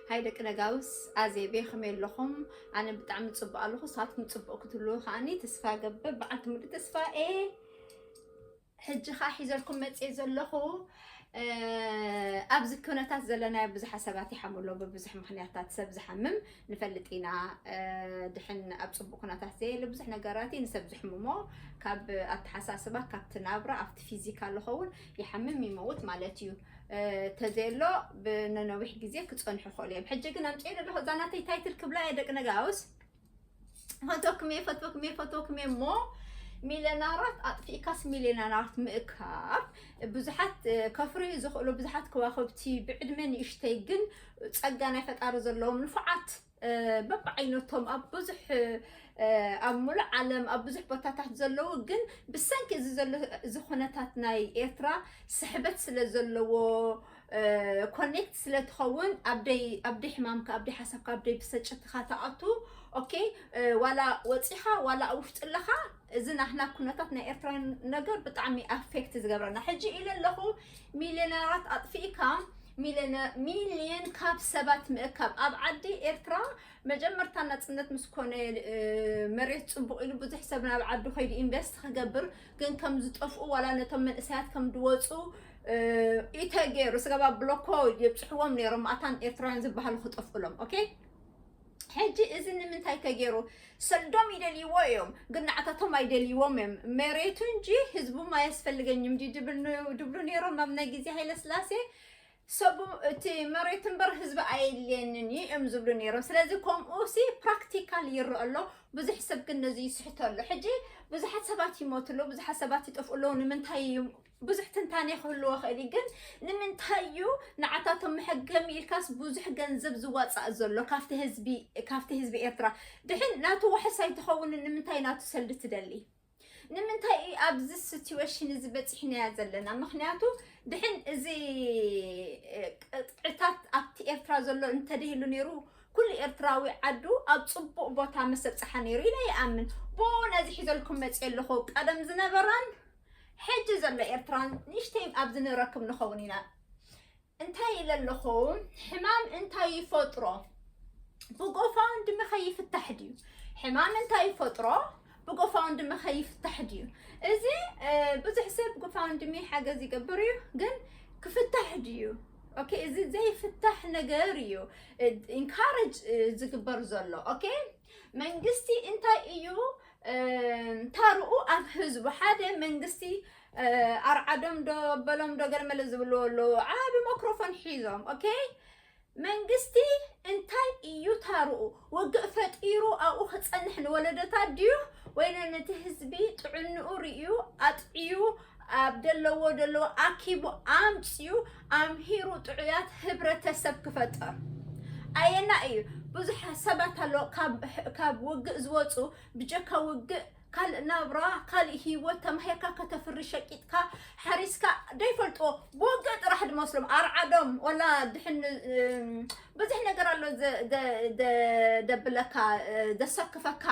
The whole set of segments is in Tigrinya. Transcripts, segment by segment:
ሃይ ደቂ ነጋውስ ኣዜቤ ከመይ ኣለኹም? ኣነ ብጣዕሚ ፅቡቅ ኣለኹ። ንስኻትኩም ፅቡቅ ክትህልዉ ከዓኒ ተስፋ ገብር። በዓልቲ ሙሉ ተስፋ ኤ ሕጂ ከዓ ሒዘልኩም መፅየ ዘለኹ ኣብዚ ኩነታት ዘለናዮ ብዙሓት ሰባት ይሓሙ ኣለዉ ብብዙሕ ምክንያታት ሰብ ዝሓምም ንፈልጥ ኢና ድሕን ኣብ ፅቡቅ ኩነታት ዘየለ ብዙሕ ነገራት እዩ ንሰብ ዝሕምሞ ካብ ኣተሓሳስባ ካብቲ ናብራ ኣብቲ ፊዚካ ዝኸውን ይሓምም ይመውት ማለት እዩ ተዘየሎ ብነነዊሕ ግዜ ክፀንሑ ይኽእሉ እዮም ሕጂ ግን ኣምፅኦ ኣለኹ እዛ ናተይ ታይትል ክብላ እየ ደቂ ነጋውስ ፈቶክም እየ ፈቶክም እየ ፈቶክም እየ እሞ ሚሊዮናራት ኣጥፊእካስ ሚሊዮናራት ምእካብ ብዙሓት ከፍርዩ ዝኽእሉ ብዙሓት ከዋኽብቲ ብዕድመ ንእሽተይ ግን ጸጋ ናይ ፈጣሪ ዘለዎም ንፉዓት በብዓይነቶም ኣብ ብዙሕ ኣብ ሙሉእ ዓለም ኣብ ብዙሕ ቦታታት ዘለዉ ግን ብሰንኪ እዚ ዘሎ እዚ ኩነታት ናይ ኤርትራ ስሕበት ስለ ዘለዎ ኮኔክት ስለ ትኸውን ኣብደይ ኣብደይ ሕማምካ ኣብደይ ሓሳብካ ኣብደይ ብሰጭትኻ ተኣቱ ኦኬ ዋላ ወፂኻ ዋላ ኣብ ውሽጢ ኣለኻ እዚ ናህና ኩነታት ናይ ኤርትራውያን ነገር ብጣዕሚ ኣፌክት ዝገብረና ሕጂ ኢለ ኣለኹ ሚልዮነራት ኣጥፊእካ ሚልዮን ካብ ሰባት ምእካብ ኣብ ዓዲ ኤርትራ መጀመርታ ናፅነት ምስ ኮነ መሬት ፅቡቕ ኢሉ ብዙሕ ሰብ ናብ ዓዱ ከይዱ ኢንቨስት ክገብር ግን ከም ዝጠፍኡ ዋላ ነቶም መንእሰያት ከም ዝወፁ ኢተ ገይሩ ስጋብ ኣብ ብሎኮ የብፅሕዎም ነይሮም ኣታን ኤርትራውያን ዝበሃሉ ክጠፍኡሎም ኦኬ ሕጂ እዚ ንምንታይ ተገይሩ ሰዶም ይደልይዎ እዮም ግን ንዓታቶም ኣይደልይዎም እዮም መሬቱ እንጂ ህዝቡም ኣየስፈልገኝም ዲ ድብሉ ነይሮም ኣብ ናይ ግዜ ሃይለ ስላሴ ሰቡ እቲ መሬት እምበር ህዝቢ ኣየድልየንን እዩ እዮም ዝብሉ ነይሮም ስለዚ ከምኡ ሲ ፕራክቲካል ይረአ ኣሎ ብዙሕ ሰብ ግን ነዚ ይስሕቶ ኣሎ ሕጂ ብዙሓት ሰባት ይሞቱ ኣለዉ ብዙሓት ሰባት ይጠፍኡ ኣለዉ ንምንታይ እዩ ብዙሕ ትንታኔ ክህልዎ ክእል እዩ ግን ንምንታይ እዩ ንዓታቶም መሐገሚ ኢልካስ ብዙሕ ገንዘብ ዝዋፃእ ዘሎ ካብቲ ህዝቢ ካብቲ ህዝቢ ኤርትራ ድሕን ናቱ ዋሕስ ኣይትኸውን ንምንታይ ናቱ ሰልዲ ትደሊ ንምንታይ እዩ ኣብዚ ሲትዌሽን እዚ በፂሕናያ ዘለና ምክንያቱ ድሕን እዚ ቅጥዕታት ኣብቲ ኤርትራ ዘሎ እንተደህሉ ነይሩ ኩሉ ኤርትራዊ ዓዱ ኣብ ፅቡቅ ቦታ መሰብፅሓ ነይሩ ኢለ ይኣምን ብኡ ነዚ ሒዘልኩም መፅእ ኣለኹ ቀደም ዝነበራን ሕጂ ዘሎ ኤርትራን ንእሽተይ ኣብ ዝንረክብ ንኸውን ኢና እንታይ ኢለ ኣለኹ ሕማም እንታይ ይፈጥሮ ብጎፋውን ድሚ ከይፍታሕ ድዩ ሕማም እንታይ ይፈጥሮ ብጎፋውን ድሚ ከይፍታሕ ድዩ እዚ ብዙሕ ሰብ ጎፋውን ድሚ ሓገዝ ይገብር እዩ ግን ክፍታሕ ድዩ ኦኬ እዚ ዘይፍታሕ ነገር እዩ ኢንካረጅ ዝግበር ዘሎ ኦኬ መንግስቲ እንታይ እዩ ታርኡ ኣብ ህዝቡ ሓደ መንግስቲ ኣርዓዶም ዶ በሎም ዶ ገለመለ ዝብልዎ ኣለዎ ዓቢ ማክሮፎን ሒዞም ኦኬ መንግስቲ እንታይ እዩ ታርኡ ውግእ ፈጢሩ ኣብኡ ክፀንሕ ንወለዶታት ድዩ ወይ ነቲ ህዝቢ ጥዕንኡ ርእዩ ኣጥዕዩ ኣብ ደለዎ ደለዎ ኣኪቡ ኣምጺኡ ኣምሂሩ ጥዑያት ህብረተሰብ ክፈጥር ኣየና እዩ ብዙሕ ሰባት ኣሎ ካብ ውግእ ዝወፁ ብጀካ ውግእ ካልእ ናብራ ካልእ ሂወት ተማሂርካ ከተፍሪ ሸቂጥካ ሓሪስካ ደይፈልጥዎ ብውግእ ጥራሕ ድመስሎም ኣርዓዶም ወላ ድሕን ብዙሕ ነገር ኣሎ ደብለካ ደሰክፈካ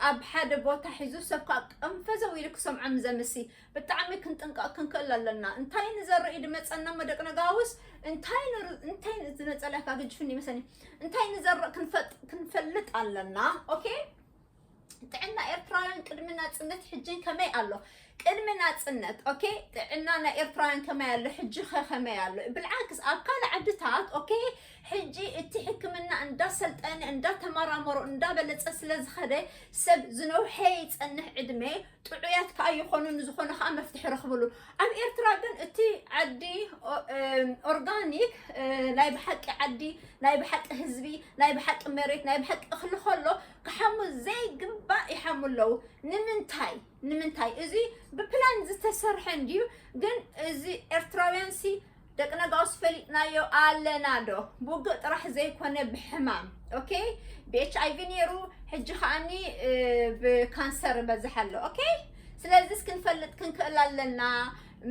ኣብ ሓደ ቦታ ሒዙ ሰብ ከዓ ቀንፈዘው ኢሉ ክሰምዖ ንዘምሲ ብጣዕሚ ክንጥንቀቕ ክንክእል ኣለና እንታይ ንዘርኢ ድመፀና እሞ ደቂ ነጋውስ እንታይ እንታይ ዝነፀላ ካብ ግጅፍኒ መሰኒ እንታይ ንዘርእ ክንፈልጥ ኣለና ኦኬ ጥዕና ኤርትራውያን ቅድሚ ናፅነት ሕጂን ከመይ ኣሎ ቅድሚ ናጽነት ኦኬ ጥዕና ናይ ኤርትራውያን ከመይ ኣሎ ሕጂ ከ ከመይ ኣሎ ብልዓክስ ኣብ ካልእ ዓድታት ኦኬ ሕጂ እቲ ሕክምና እንዳሰልጠነ እንዳተመራመሮ እንዳበለጸ ስለ ዝኸደ ሰብ ዝነውሐ ይጸንሕ ዕድመ ጥዑያት ከዓ ይኾኑ ንዝኾነ ከዓ መፍትሒ ረኽብሉ ኣብ ኤርትራ ግን እቲ ዓዲ ኦርጋኒክ ናይ ብሓቂ ዓዲ ናይ ብሓቂ ህዝቢ ናይ ብሓቂ መሬት ናይ ብሓቂ እኽሊ ከሎ ክሓሙ ዘይግባእ ይሓሙ ኣለዉ ንምንታይ ንምንታይ እዚ ብፕላን ዝተሰርሐ እንድዩ ግን እዚ ኤርትራውያን ሲ ደቂ ነጋውስ ፈሊጥናዮ ኣለና ዶ ብውግእ ጥራሕ ዘይኮነ ብሕማም ኦኬ ብኤች ኣይቪ ነይሩ ሕጂ ከዓኒ ብካንሰር በዝሕ ኣሎ ኦኬ ስለዚ ክንፈልጥ ክንክእል ኣለና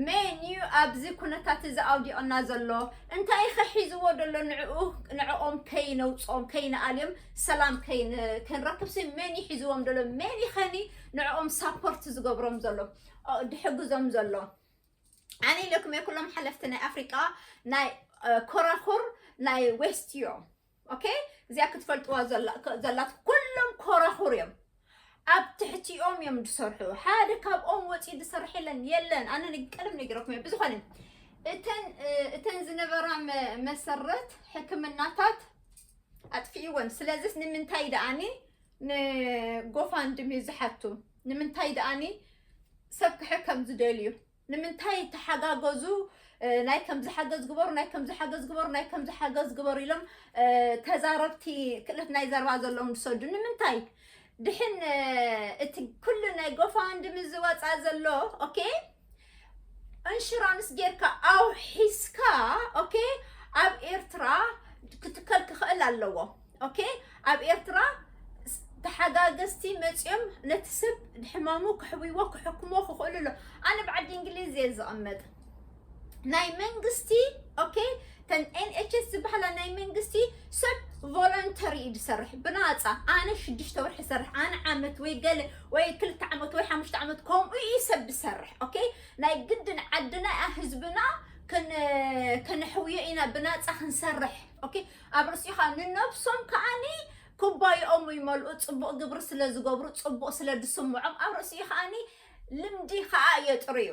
መን እዩ ኣብዚ ኩነታት እዚ ኣውዲቕና ዘሎ እንታይ ከሒዝዎ ደሎ ንዕኡ ንዕኦም ከይነውፅኦም ከይንኣልዮም ሰላም ክንረክብሲ መን ይሒዝዎም ደሎ መን ይኸኒ ንዕኦም ሳፖርት ዝገብሮም ዘሎ ድሕግዞም ዘሎ ኣነ ኢለኩም እየ ኩሎም ሓለፍቲ ናይ ኣፍሪቃ ናይ ኮራኩር ናይ ዌስት እዮም ኦኬ እዚኣ ክትፈልጥዋ ዘላት ኩሎም ኮራኩር እዮም ኣብ ትሕቲኦም እዮም ዝሰርሑ ሓደ ካብኦም ወፂ ዝሰርሕ የለን የለን ኣነ ቀደም ነጊረኩም እየ ብዝኾነ እተን ዝነበራ መሰረት ሕክምናታት ኣጥፊእወን ስለዚስ ንምንታይ ደኣኒ ን ጎፋንድሚ ዝሓቱ ንምንታይ ድኣኒ ሰብ ክሕከም ዝደልዩ ንምንታይ ተሓጋገዙ ናይ ከምዚ ሓገዝ ግበሩ ናይ ከምዚ ሓገዝ ግበሩ ናይ ከምዚ ሓገዝ ግበሩ ኢሎም ተዛረብቲ ክእለት ናይ ዘረባ ዘለዎም ዝሰዱ ንምንታይ ድሕን እቲ ኩሉ ናይ ጎፋንድሚ ዝወፃ ዘሎ ኦኬ እንሽራንስ ጌርካ ኣውሒስካ ኦኬ ኣብ ኤርትራ ክትከል ክኽእል ኣለዎ ኦኬ ኣብ ኤርትራ ተሓጋገዝቲ መፅኦም ነቲ ሰብ ሕማሙ ክሕብዎ ክሕክሞ ክኽእሉ ኣሎ ኣነ ብዓዲ እንግሊዝ እየ ዝቕመጥ ናይ መንግስቲ ኦኬ ተን NHS ዝበሃላ ናይ መንግስቲ ሰብ ቮለንተሪ እዩ ዝሰርሕ ብናፃ ኣነ ሽዱሽተ ወርሒ ዝሰርሕ ኣነ ዓመት ወይ ገለ ወይ ክልተ ዓመት ወይ ሓሙሽተ ዓመት ከምኡ እዩ ሰብ ዝሰርሕ ኦኬ ናይ ግድን ዓድና እያ ህዝብና ከነሕውዮ ኢና ብናፃ ክንሰርሕ ኦኬ ኣብ ርእሲኻ ንነብሶም ከዓኒ ኩባይኦም ይመልኡ ፅቡቕ ግብሪ ስለ ዝገብሩ ፅቡቕ ስለ ዝስምዖም ኣብ ርእሲኡ ከዓኒ ልምዲ ከዓ የጥርዩ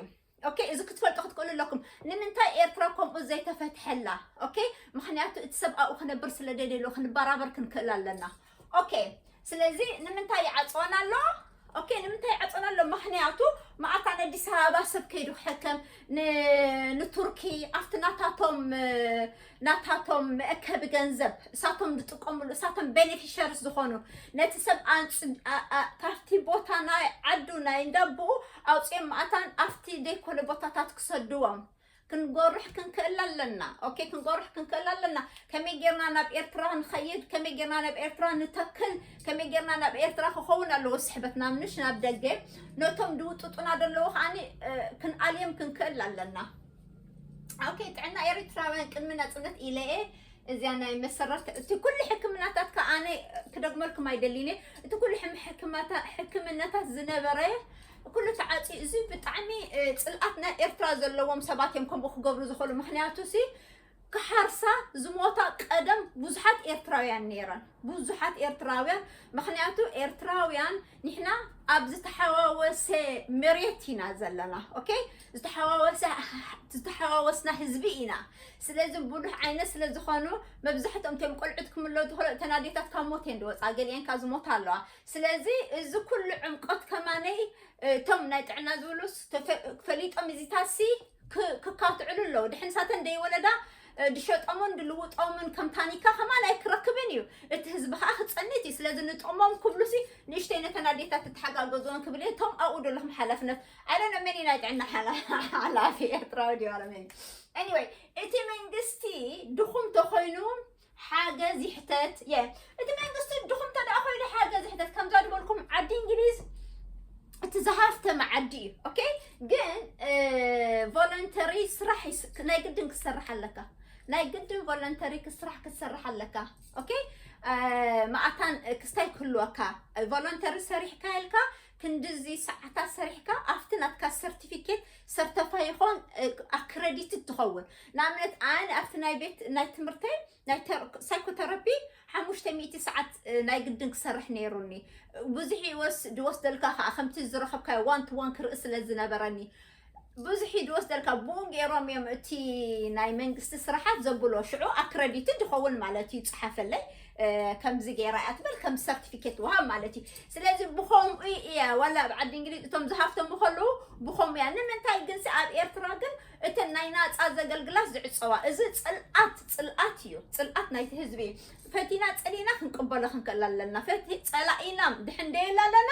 ኦኬ እዚ ክትፈልጡ ክትክእሉ ኣለኩም ንምንታይ ኤርትራ ከምኡ ዘይተፈትሐላ ኦኬ ምክንያቱ እቲ ሰብኣኡ ክነብር ስለ ደልየሉ ክንበራበር ክንክእል ኣለና ኦኬ ስለዚ ንምንታይ ይዓፅወና ኣሎ ኦኬ ንምንታይ ይዓፅወና ኣሎ ምክንያቱ መዓልታ ንኣዲስ ኣበባ ሰብ ከይዱ ክሕከም ንቱርኪ ኣብቲ ናታቶም ናታቶም መእከቢ ገንዘብ እሳቶም ዝጥቀምሉ እሳቶም ቤኔፊሸርስ ዝኾኑ ነቲ ሰብ ካብቲ ቦታ ናይ ዓዱ ናይ እንዳቦኡ ኣውፅኦም ማእታን ኣብቲ ዘይኮነ ቦታታት ክሰድዎም ክንጎርሕ ክንክእል ኣለና ኦኬ ክንጎርሕ ክንክእል ኣለና ከመይ ጌርና ናብ ኤርትራ ንኸይድ ከመይ ጌርና ናብ ኤርትራ ንተክል ከመይ ጌርና ናብ ኤርትራ ክኸውን ኣለዎ ስሕበትና ምንሽ ናብ ደገ ነቶም ድውጥጡና ደለዉ ከዓኒ ክንኣልዮም ክንክእል ኣለና ኦኬ ጥዕና ኤሪትራውያን ቅድሚ ናጽነት ኢለ እየ እዚያ ናይ መሰረት እቲ ኩሉ ሕክምናታት ከዓ ኣነ ክደግመልኩም ኣይደሊን እየ እቲ ኩሉ ሕም- ሕክማታ- ሕክምናታት ዝነበረ ኩሉ ተዓፅዩ እዚ ብጣዕሚ እ፣ ፅልኣት ናይ ኤርትራ ዘለዎም ሰባት እዮም ከምኡ ክገብሩ ዝኽእሉ ምክንያቱ ሲ ክሓርሳ ዝሞታ ቀደም ብዙሓት ኤርትራውያን ነይረን ብዙሓት ኤርትራውያን ምክንያቱ ኤርትራውያን ንሕና ኣብ ዝተሓዋወሰ መሬት ኢና ዘለና ኦኬ ዝተሓዋወሰ ዝተሓዋወስና ህዝቢ ኢና ስለዚ ብዙሕ ዓይነት ስለ ዝኾኑ መብዛሕትኦም እቶም ቆልዑት ክምለ ዝኽእሉ እተን ኣዴታት ካብ ሞት እየን ዝወፃ ገሊአን ካብ ዝሞታ ኣለዋ ስለዚ እዚ ኩሉ ዕምቆት ከማነይ እቶም ናይ ጥዕና ዝብሉ ፈሊጦም እዚታሲ ክካትዕሉ ኣለዉ ድሕን ሳተን ደይወለዳ ድሸጦምን ድልውጦምን ከም ታኒካ ከማን ኣይክረክብን እዩ እቲ ህዝቢ ከዓ ክፀኒት እዩ ስለዚ ንጥቕሞም ክብሉ ሲ ንእሽተይ ነተን ኣዴታት ትተሓጋገዝዎን ክብል እየ እቶም ኣብኡ ዘለኹም ሓላፍነት ኣይደነ መን ናይ ጥዕና ሓላፊ ኤርትራዊ ድዩ ኣረመኒ ኤኒወይ እቲ መንግስቲ ድኹም ተኮይኑ ሓገዝ ይሕተት እየ እቲ መንግስቲ ድኹም እንተደኣ ኮይኑ ሓገዝ ይሕተት ከምዛ ዝበልኩም ዓዲ እንግሊዝ እቲ ዝሃፍተመ ዓዲ እዩ ኦኬ ግን ቮለንተሪ ስራሕ ይስ- ናይ ግድን ክሰርሕ ኣለካ ናይ ግድን ቮለንተሪ ክስራሕ ክትሰርሕ ኣለካ ኦኬ መኣታን ክስታይ ክህልወካ ቮለንተሪ ሰሪሕካ ኢልካ ክንድዚ ሰዓታት ሰሪሕካ ኣብቲ ናትካ ሰርቲፊኬት ሰርተፋይ ይኾን ኣክረዲትድ ትኸውን ንኣብነት ኣነ ኣብቲ ናይ ቤት ናይ ትምህርተይ ናይ ሳይኮተራፒ ሓሙሽተ ሚእቲ ሰዓት ናይ ግድን ክሰርሕ ነይሩኒ ብዙሕ ይወስ ድወስደልካ ከዓ ከምቲ ዝረኸብካዮ ዋን ቱ ዋን ክርኢ ስለ ዝነበረኒ ብዙሕ እዩ ዝወስደልካ ብኡ ገይሮም እዮም እቲ ናይ መንግስቲ ስራሓት ዘብሎ ሽዑ ኣክረዲትድ ይኸውን ማለት እዩ ፀሓፈለይ ከምዚ ገይራ እያ ትበል ከም ሰርቲፊኬት ወሃብ ማለት እዩ ስለዚ ብከምኡ እያ ዋላ ኣብ ዓዲ እንግሊዝ እቶም ዝሃፍተሙ ከለዉ ብከምኡ እያ ንምንታይ ግንሲ ኣብ ኤርትራ ግን እተን ናይ ናፃ ዘገልግላት ዝዕፀዋ እዚ ፅልኣት ፅልኣት እዩ ፅልኣት ናይቲ ህዝቢ እዩ ፈቲና ጸሊእና ክንቅበሎ ክንክእል ኣለና። ፈቲ ጸላኢና ድሕን ደየላለና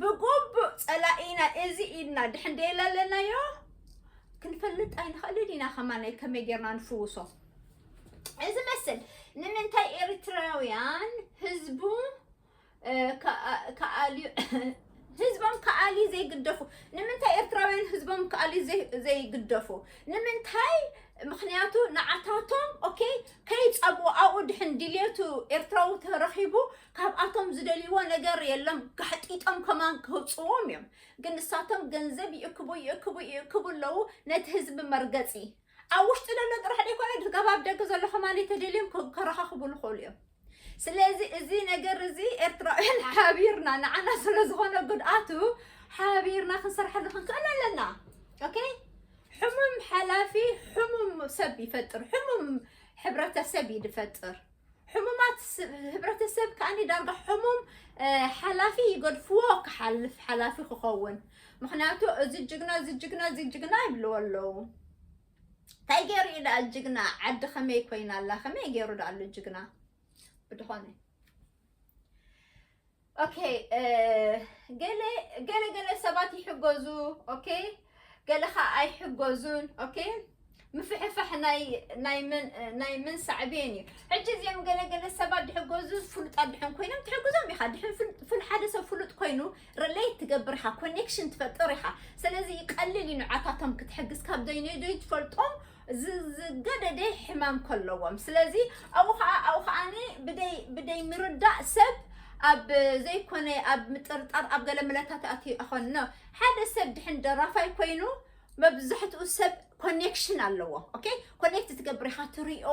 ብጉቡእ ጸላኢና እዚ ኢድና ድሕን ደየላለናዮ ክንፈልጥ ኣይንኽእልን ኢና ከማናይ ከመይ ጌርና ንፍውሶ እዚ መስል ንምንታይ ኤርትራውያን ህዝቡ ከኣልዩ ህዝቦም ከኣልዩ ዘይግደፉ ንምንታይ ኤርትራውያን ህዝቦም ከኣልዩ ዘይግደፉ ንምንታይ ምክንያቱ ንዓታቶም ኦኬ ከይፀቡ ኣብኡ ድሕን ድልየቱ ኤርትራዊ ተረኺቡ ካብኣቶም ዝደልይዎ ነገር የሎም ጋሕጢጦም ከማን ከውፅዎም እዮም ግን ንሳቶም ገንዘብ ይእክቡ ይእክቡ ይእክቡ ኣለዉ ነቲ ህዝቢ መርገፂ ኣብ ውሽጢ ዘሎ ጥራሕ ደይኮነ ድርጋብ ኣብ ደገ ዘሎ ከማን እተደልዮም ከረኻኽቡ ልኸእሉ እዮም ስለዚ እዚ ነገር እዚ ኤርትራውያን ሓቢርና ንዓና ስለ ዝኾነ ጉድኣቱ ሓቢርና ክንሰርሐሉ ክንክእል ኣለና ኦኬ ሕሙም ሓላፊ ሕሙም ሰብ ይፈጥር ሕሙም ሕብረተሰብ ይድፈጥር ሕሙማት ህብረተሰብ ከዓኒ ዳርጋ ሕሙም ሓላፊ ይገድፍዎ ክሓልፍ ሓላፊ ክኸውን ምክንያቱ እዚ ጅግና እዚ ጅግና እዚ ጅግና ይብልዎ ኣለዉ እንታይ ገይሩ እዩ ዳኣ ጅግና ዓዲ ከመይ ኮይና ኣላ ከመይ ገይሩ ዳኣሉ ጅግና ብድኾነ ኦኬ ገለ ገለ ገለ ሰባት ይሕገዙ ኦኬ ገለ ከዓ ኣይሕገዙን ኦኬ ምፍሕፋሕ ናይ ምን ሳዕቤን እዩ ሕጂ እዚኦም ገለ ገለ ሰባት ድሕገዙ ፍሉጣት ድሕን ኮይኖም ትሕግዞም ኢኻ ድሕን ሓደ ሰብ ፍሉጥ ኮይኑ ሪሌት ትገብር ኢኻ ኮኔክሽን ትፈጥር ኢኻ ስለዚ ይቀልል እዩ ንዓታቶም ክትሕግዝ ካብ ዘይነይ ትፈልጦም ዝገደደ ሕማም ከለዎም ስለዚ ኣብኡ ከዓ ኣብኡ ከዓኒ ብደይ ብደይ ምርዳእ ሰብ ኣብ ዘይኮነ ኣብ ምጥርጣር ኣብ ገለ ምለታት ኣትዩ ኣኾንኖ ሓደ ሰብ ድሕን ደራፋይ ኮይኑ መብዛሕትኡ ሰብ ኮኔክሽን ኣለዎ ኦኬ ኮኔክት ትገብር ኢኻ ትሪኦ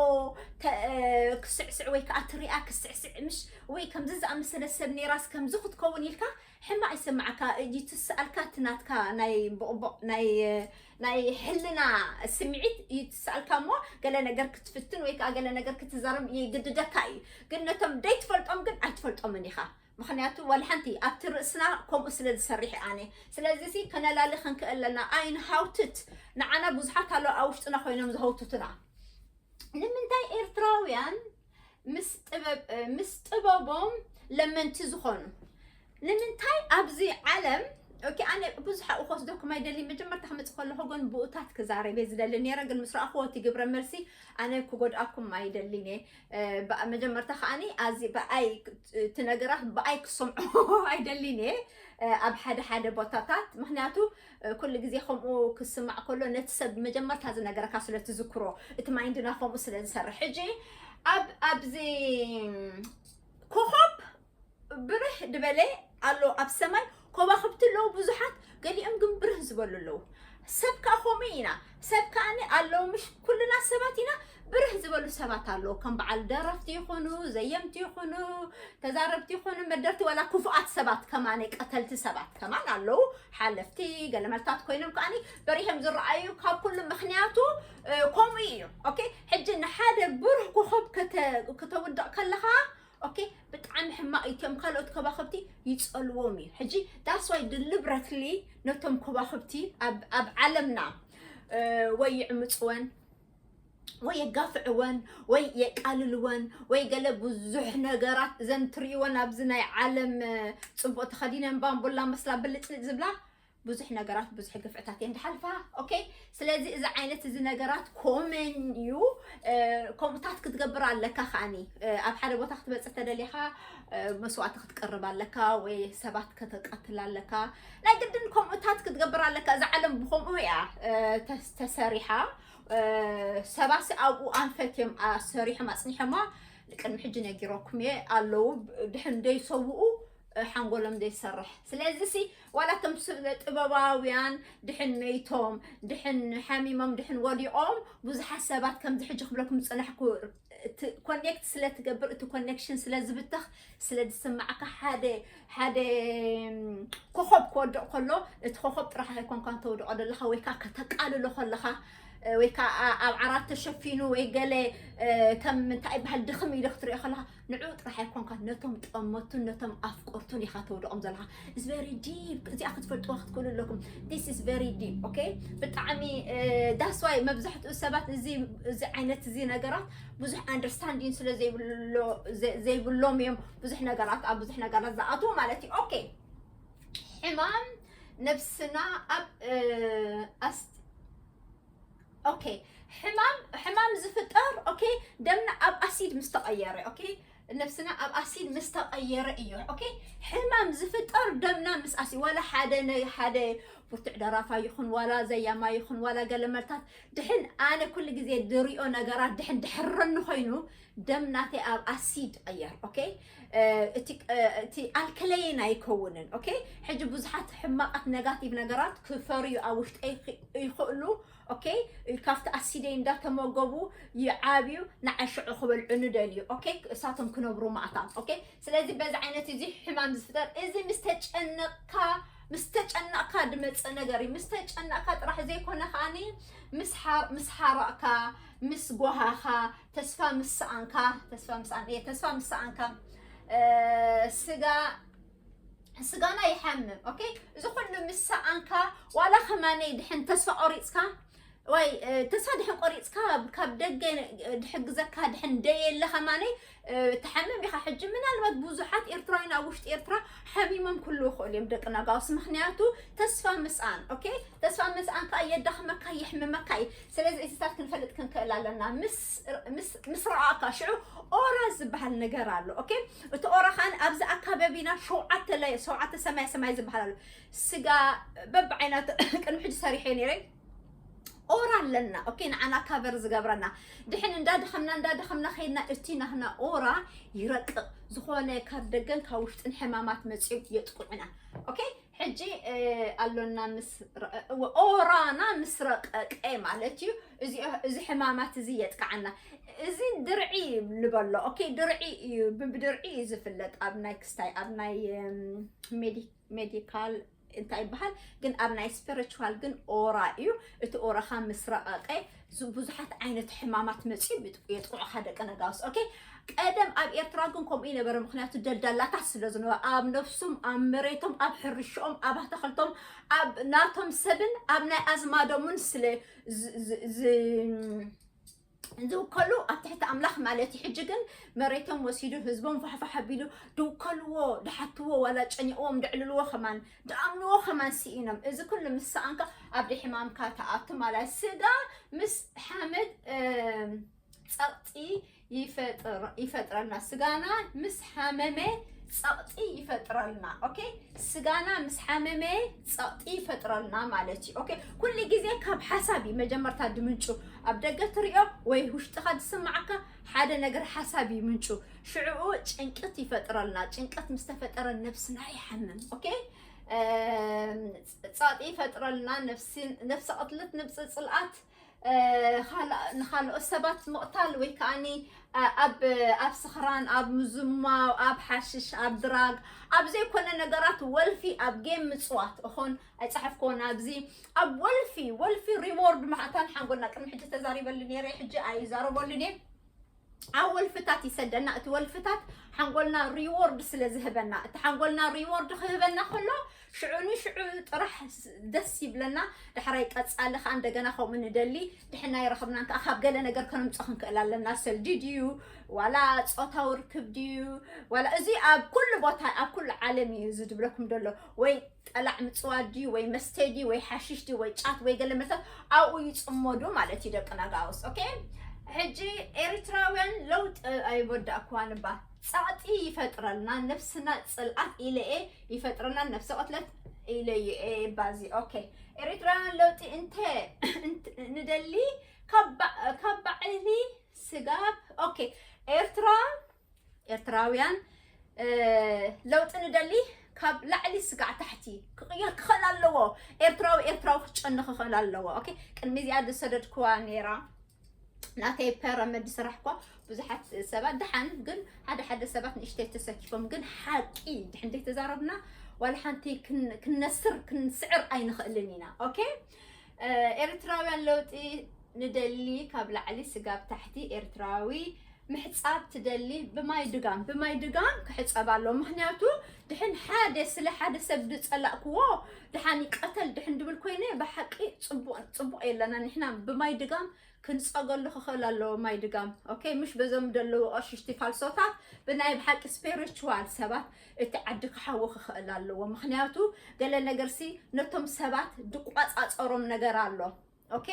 ክስዕስዕ ወይ ከዓ ትሪኣ ክስዕስዕ ምሽ ወይ ከምዚ ዝኣመሰለ ሰብ ነይራስ ከምዚ ክትከውን ኢልካ ሕማቅ ይስምዓካ እጂ ትስኣልካ እቲ ናትካ ናይ ቦቅቦቅ ናይ ሕልና ስሚዒት እዩ ትስኣልካ እሞ ገለ ነገር ክትፍትን ወይ ከኣ ገለ ነገር ክትዛረብ ይግድደካ እዩ ግን ነቶም ደይትፈልጦም ግን ኣይትፈልጦምን ኢካ ምክንያቱ ዋላ ሓንቲ ኣብቲ ርእስና ከምኡ ስለ ዝሰርሕ ኣነ ስለዚ ሲ ከነላሊ ክንክእል ኣለና ኣይንሃውትት ንዓና ብዙሓት ኣለዉ ኣብ ውሽጥና ኮይኖም ዝሃውትቱና ንምንታይ ኤርትራውያን ምስ ጥበቦም ለመንቲ ዝኾኑ ንምንታይ ኣብዚ ዓለም ኦኬ ኣነ ብዙሕ ኣብኡ ክወስደኩም ኣይደልይ መጀመርታ ክመፅእ ከለኹ ግን ብኡታት ክዛረብ እየ ዝደሊ ነይረ ግን ምስ ረኣኹዎ እቲ ግብረ መልሲ ኣነ ክጎድኣኩም ኣይደልን እየ መጀመርታ ከዓኒ ኣዚ ብኣይ እቲ ነገራት ብኣይ ክሰምዑ ኣይደልን እየ ኣብ ሓደ ሓደ ቦታታት ምክንያቱ ኩሉ ግዜ ከምኡ ክስማዕ ከሎ ነቲ ሰብ መጀመርታ ዝነገረካ ስለ ትዝክሮ እቲ ማይንድና ከምኡ ስለ ዝሰርሕ ሕጂ ኣብ ኣብዚ ኮኾብ ብርህ ድበለ ኣሎ ኣብ ሰማይ ኮባኽብቲ ኣለዉ ብዙሓት ገሊኦም ግን ብርህ ዝበሉ ኣለዉ ሰብ ከዓ ከምኡ ኢና ሰብ ከኣኒ ኣለዉ ምሽ ኩልና ሰባት ኢና ብርህ ዝበሉ ሰባት ኣለዉ ከም በዓል ደረፍቲ ይኹኑ ዘየምቲ ይኹኑ ተዛረብቲ ይኹኑ መደርቲ ዋላ ክፉኣት ሰባት ከማነ ቀተልቲ ሰባት ከማን ኣለዉ ሓለፍቲ ገለመልታት ኮይኖም ከኣኒ በሪሆም ዝረኣዩ ካብ ኩሉ ምክንያቱ እ፣ ከምኡ እዩ ኦኬ ሕጂ ንሓደ ብሩህ ኮኸብ ከተ- ከተውድቕ ከለኻ ኦኬ ብጣዕሚ ሕማቅ እዩ እቶም ካልኦት ኮባክብቲ ይፀልዎም እዩ ሕጂ ዳስዋይ ድልብረትሊ ነቶም ኮባክብቲ ኣብ ዓለምና ወይ ይዕምፅወን ወይ የጋፍዕወን ወይ የቃልልወን ወይ ገለ ብዙሕ ነገራት እዘን ትርእይወን ኣብዚ ናይ ዓለም ፅቡቅ ተኸዲነን ባምቡላ መስላ ብልፅልፅ ዝብላ ብዙሕ ነገራት ብዙሕ ግፍዕታት እየን ድሓልፋ ኦኬ ስለዚ እዚ ዓይነት እዚ ነገራት ኮመን እዩ ከምኡታት ክትገብር ኣለካ ከዓኒ ኣብ ሓደ ቦታ ክትበፅሕ ተደሊኻ መስዋእቲ ክትቀርብ ኣለካ ወይ ሰባት ከተቃትል ኣለካ ናይ ግድን ከምኡታት ክትገብር ኣለካ እዛ ዓለም ብከምኡ እያ ተሰሪሓ ሰባት ኣብኡ ኣንፈት እዮም ሰሪሖም ኣፅኒሖማ ቅድሚ ሕጂ ነጊረኩም እየ ኣለዉ ድሕን ደይሰውኡ ሓንጎሎም ዘይሰርሕ ስለዚ ሲ ዋላ እቶም ስለ ጥበባውያን ድሕን መይቶም ድሕን ሓሚሞም ድሕን ወዲቖም ብዙሓት ሰባት ከምዚ ሕጂ ክብለኩም ዝፅናሕኩ ኮኔክት ስለ ትገብር እቲ ኮኔክሽን ስለ ዝብተኽ ስለ ዝስማዕካ ሓደ ሓደ ኮኸብ ክወድቕ ከሎ እቲ ኮኸብ ጥራሕ ኣይኮንካን ተውድቖ ዘለኻ ወይ ከዓ ከተቃልሎ ከለኻ ወይ ከዓ ኣብ ዓራት ተሸፊኑ ወይ ገለ ከም እንታይ ይበሃል ድኽም ኢሉ ክትሪኦ ከለኻ ንዕኡ ጥራሕ ኣይኮንካን ነቶም ጠመቱን ነቶም ኣፍቀርቱን ኢኻ ተውድቖም ዘለኻ ኢስ ቨሪ ዲፕ እዚኣ ክትፈልጥዋ ክትክእሉ ኣለኩም ዲስ ኢስ ቨሪ ዲፕ ኦኬ ብጣዕሚ ዳስዋይ መብዛሕትኡ ሰባት እዚ እዚ ዓይነት እዚ ነገራት ብዙሕ ኣንደርስታንዲን ስለ ዘይብሎም እዮም ብዙሕ ነገራት ኣብ ብዙሕ ነገራት ዝኣትዎ ማለት እዩ ኦኬ ሕማም ነብስና ኣብ ኦኬ ሕማም ሕማም ዝፍጠር ኦኬ ደምና ኣብ ኣሲድ ምስ ተቐየረ ኦኬ ነብስና ኣብ ኣሲድ ምስ ተቐየረ እዩ ኦኬ ሕማም ዝፍጠር ደምና ምስ ኣሲ ዋላ ሓደ ነ- ሓደ ብርቱዕ ደራፋ ይኹን ዋላ ዘያማ ይኹን ዋላ ገለ መርታት ድሕን ኣነ ኩሉ ግዜ ዝሪኦ ነገራት ድሕን ድሕረኒ ኮይኑ ደም ናተይ ኣብ ኣሲድ ይቐየር ኦኬ እቲ ኣልከለይን ኣይከውንን ኦኬ ሕጂ ብዙሓት ሕማቃት ነጋቲቭ ነገራት ክፈርዩ ኣብ ውሽጠይ ይኽእሉ ኦኬ ካብቲ ኣሲደይ እንዳተመገቡ ይዓብዩ ንዓይ ሽዑ ክበልዑኒ ደልዩ ኦኬ እሳቶም ክነብሩ ማእታም ኦኬ ስለዚ በዚ ዓይነት እዚ ሕማም ዝፍጠር እዚ ምስ ተጨነቕካ ምስ ተጨነቕካ ድመፅእ ነገር እዩ ምስ ተጨነቕካ ጥራሕ ዘይኮነ ከዓኒ ምስ ሓረቕካ ምስ ጓሃኻ ተስፋ ምስ ሰኣንካ ተስፋ ምስ ሰኣን እየ ተስፋ ምስ ሰኣንካ ስጋ ስጋና ይሓምም ኦኬ እዚ ኩሉ ምስ ሰኣንካ ዋላ ከማነይ ድሕን ተስፋ ቆሪፅካ ወይ ተስፋ ድሕን ቆሪፅካ ካብ ደገ ድሕግዘካ ድሕን ደየለ ከማነይ ትሓምም ኢኻ ሕጂ ምናልባት ብዙሓት ኤርትራውያን ኣብ ውሽጢ ኤርትራ ሓሚሞም ክሉ ይኽእሉ እዮም ደቂ ነጋውስ ምክንያቱ ተስፋ ምስኣን ኦኬ ተስፋ ምስኣን ከዓ የዳኽመካ የሕምመካ እዩ ስለዚ እዚታት ክንፈልጥ ክንክእል ኣለና ምስ ረኣካ ሽዑ ኦራ ዝበሃል ነገር ኣሎ ኦኬ እቲ ኦራ ካን ኣብዚ ኣካባቢና ሸውዓተ ለየ ሸውዓተ ሰማይ ሰማይ ዝበሃል ኣሎ ስጋ በብዓይነቱ ቅድሚ ሕጂ ሰሪሐ ነይረ ኦራ ኣለና ኦኬ ንዓና ካቨር ዝገብረና ድሕን እንዳደኸምና እንዳደኸምና ከይድና እቲ ናህና ኦራ ይረቅቕ ዝኾነ ካብ ደገን ካብ ውሽጥን ሕማማት መፅኦም የጥቁዕና ኦኬ ሕጂ ኣሎና ምስ ኦራና ምስ ረቀቀ ማለት እዩ እዚ ሕማማት እዚ የጥቃዓና እዚ ድርዒ ልበሎ ኦኬ ድርዒ እዩ ብድርዒ እዩ ዝፍለጥ ኣብ ናይ ክስታይ ኣብ ናይ ሜዲካል እንታይ ይበሃል ግን ኣብ ናይ ስፒሪቹዋል ግን ኦራ እዩ እቲ ኦራኻ ምስ ረቀቀ ብዙሓት ዓይነት ሕማማት መፅኡ የጥቕዑኻ ደቂ ነጋውስ ኦኬ ቀደም ኣብ ኤርትራ ግን ከምኡ ይነበረ ምክንያቱ ደልዳላታት ስለ ዝነበረ ኣብ ነፍሱም ኣብ መሬቶም ኣብ ሕርሽኦም ኣብ ኣተኸልቶም ኣብ ናቶም ሰብን ኣብ ናይ ኣዝማዶምን ስለ ዝውከሉ ኣብ ትሕቲ ኣምላኽ ማለት እዩ ሕጂ ግን መሬቶም ወሲዱ ህዝቦም ፋሕፋሕ ኣቢሉ ድውከልዎ ድሓትዎ ዋላ ጨኒቕዎም ድዕልልዎ ከማን ድኣምንዎ ከማን ሲኢኖም እዚ ኩሉ ምስ ሰኣንካ ኣብዲ ሕማምካ ትኣቱ ማለት ስጋ ምስ ሓመድ ጸቕጢ ይፈጥረልና ስጋና ምስ ሓመመ ጸቕጢ ይፈጥረልና ኦኬ ስጋና ምስ ሓመመ ጸቕጢ ይፈጥረልና ማለት እዩ ኦኬ ኩሉ ግዜ ካብ ሓሳብ እዩ መጀመርታ ድምንጩ ኣብ ደገ ትሪኦ ወይ ውሽጥኻ ዝስማዓካ ሓደ ነገር ሓሳብ እዩ ምንጩ ሽዕኡ ጭንቀት ይፈጥረልና ጭንቀት ምስ ተፈጠረ ነብስና ይሓምም ኦኬ ጻጥ ይፈጥረልና ነፍሲ ቅትለት ንብፂ ፅልኣት ንካልኦት ሰባት ምቕታል ወይ ከዓኒ ኣብ ኣብ ስኽራን ኣብ ምዝማው ኣብ ሓሽሽ ኣብ ድራግ ኣብ ዘይኮነ ነገራት ወልፊ ኣብ ጌም ምፅዋት እኾን ኣይጸሓፍክዎን ኣብዚ ኣብ ወልፊ ወልፊ ሪዎርድ መዓታን ሓንጎልና ቅድሚ ሕጂ ተዛሪበሉ ነይረ ሕጂ ኣይዛረበሉን እየ ኣብ ወልፍታት ይሰደና እቲ ወልፍታት ሓንጎልና ሪዎርድ ስለ ዝህበና እቲ ሓንጎልና ሪዎርድ ክህበና ከሎ ሽዑ ንሽዑ ጥራሕ ደስ ይብለና ዳሕራይ ቀፃሊ ከዓ እንደገና ከምኡ ንደሊ ድሕና ይረኽብናን ከዓ ካብ ገለ ነገር ከነምፀ ክንክእል ኣለና ሰልዲ ድዩ ዋላ ፆታዊ ርክብ ድዩ ዋላ እዚ ኣብ ኩሉ ቦታ ኣብ ኩሉ ዓለም እዩ እዚ ዝብለኩም ደሎ ወይ ጠላዕ ምጽዋት ድዩ ወይ መስተ ድዩ ወይ ሓሽሽ ድዩ ወይ ጫት ወይ ገለ መሰል ኣብኡ ይጽመዱ ማለት እዩ ደቂ ናጋውስ ኦኬ ሕጂ ኤርትራውያን ለውጢ ኣይወዳእኳን እባ ጸቕጢ ይፈጥረልና ነብስና ጽልኣት ኢለኤ ይፈጥረልና ነብሰ ቅትለት ኢለዩኤ ባዚ ኦኬ ኤርትራውያን ለውጢ እንተ ንደሊ ካብ ባዕሊ ስጋብ ኦኬ ኤርትራ ኤርትራውያን ለውጢ ንደሊ ካብ ላዕሊ ስጋዕ ታሕቲ ክቕየር ክኽእል ኣለዎ ኤርትራዊ ኤርትራዊ ክጨኒ ክኽእል ኣለዎ ኦኬ ቅድሚ እዚኣ ዝሰደድክዋ ነይራ ናተይ ፐረመድ ዝስራሕኳ ብዙሓት ሰባት ድሓን ግን ሓደ ሓደ ሰባት ንእሽተይ ተሰኪፎም ግን ሓቂ ድሕን ዘይተዛረብና ዋላ ሓንቲ ክነስር ክንስዕር ኣይንኽእልን ኢና ኦኬ ኤርትራውያን ለውጢ ንደሊ ካብ ላዕሊ ስጋብ ታሕቲ ኤርትራዊ ምሕፃብ ትደሊ ብማይ ድጋም ብማይ ድጋም ክሕፀብ ኣሎ ምክንያቱ ድሕን ሓደ ስለ ሓደ ሰብ ዝፀላእክዎ ድሓን ይቀተል ድሕን ድብል ኮይነ ብሓቂ ፅቡቅ የለና ንሕና ብማይ ድጋም ክንጸገሉ ክክእል ኣለዎ ማይ ድጋም ኦከይ ምሽ በዞም ደለዉ ቀሽሽቲ ፋልሶታት ብናይ ብሓቂ ስፔሪቹዋል ሰባት እቲ ዓዲ ክሓዊ ክክእል ኣለዎ ምክንያቱ ገለ ነገርሲ ነቶም ሰባት ድቋጻጸሮም ነገር ኣሎ ኦኬ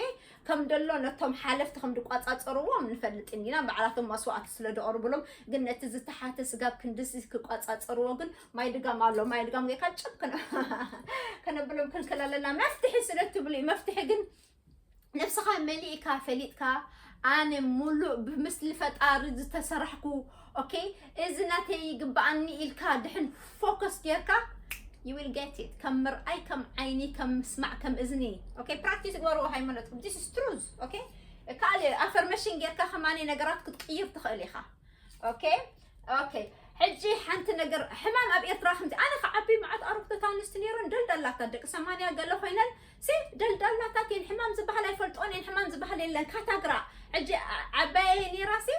ከም ደሎ ነቶም ሓለፍቲ ከም ድቋጻጸርዎም ንፈልጥን ኢና ባዕላቶም መስዋእቲ ስለ ደቕርብሎም ግን ነቲ ዝተሓተ ስጋብ ክንድዚ ክቋጻጸርዎ ግን ማይ ድጋም ኣሎ ማይ ድጋም ጌርካ ጭብ ከነብሎም ክንክል ኣለና መፍትሒ ስለ ትብሉ መፍትሒ ግን ነብስኻ መሊእካ ፈሊጥካ ኣነ ሙሉእ ብምስሊ ፈጣሪ ዝተሰራሕኩ ኦኬ እዚ ናተይ ይግበኣኒ ኢልካ ድሕን ፎከስ ጌርካ you will get it ከም ምርኣይ ከም ዓይኒ ከም ምስማዕ ከም እዝኒ ኦኬ ፕራክቲስ ግበርዎ ሃይማኖትኩም this is truth ኦኬ ካልእ ኣፈርሜሽን ጌርካ ከማኒ ነገራት ክትቅይር ትኽእል ኢኻ ኦኬ ኦኬ ሕጂ ሓንቲ ነገር ሕማም ኣብ ኤርትራ ከምዚ ኣነ ከዓቢ መዓት ኣረግቶት ኣንስቲ ነይረን ደልደላታ ደቂ ሰማንያ ገለ ኮይነን ሴፍ ደልዳላታት እየን ሕማም ዝበሃል ኣይፈልጥኦን እየን ሕማም ዝበሃል የለን ካታግራ ሕጂ ዓባየየ ነይራ ሲ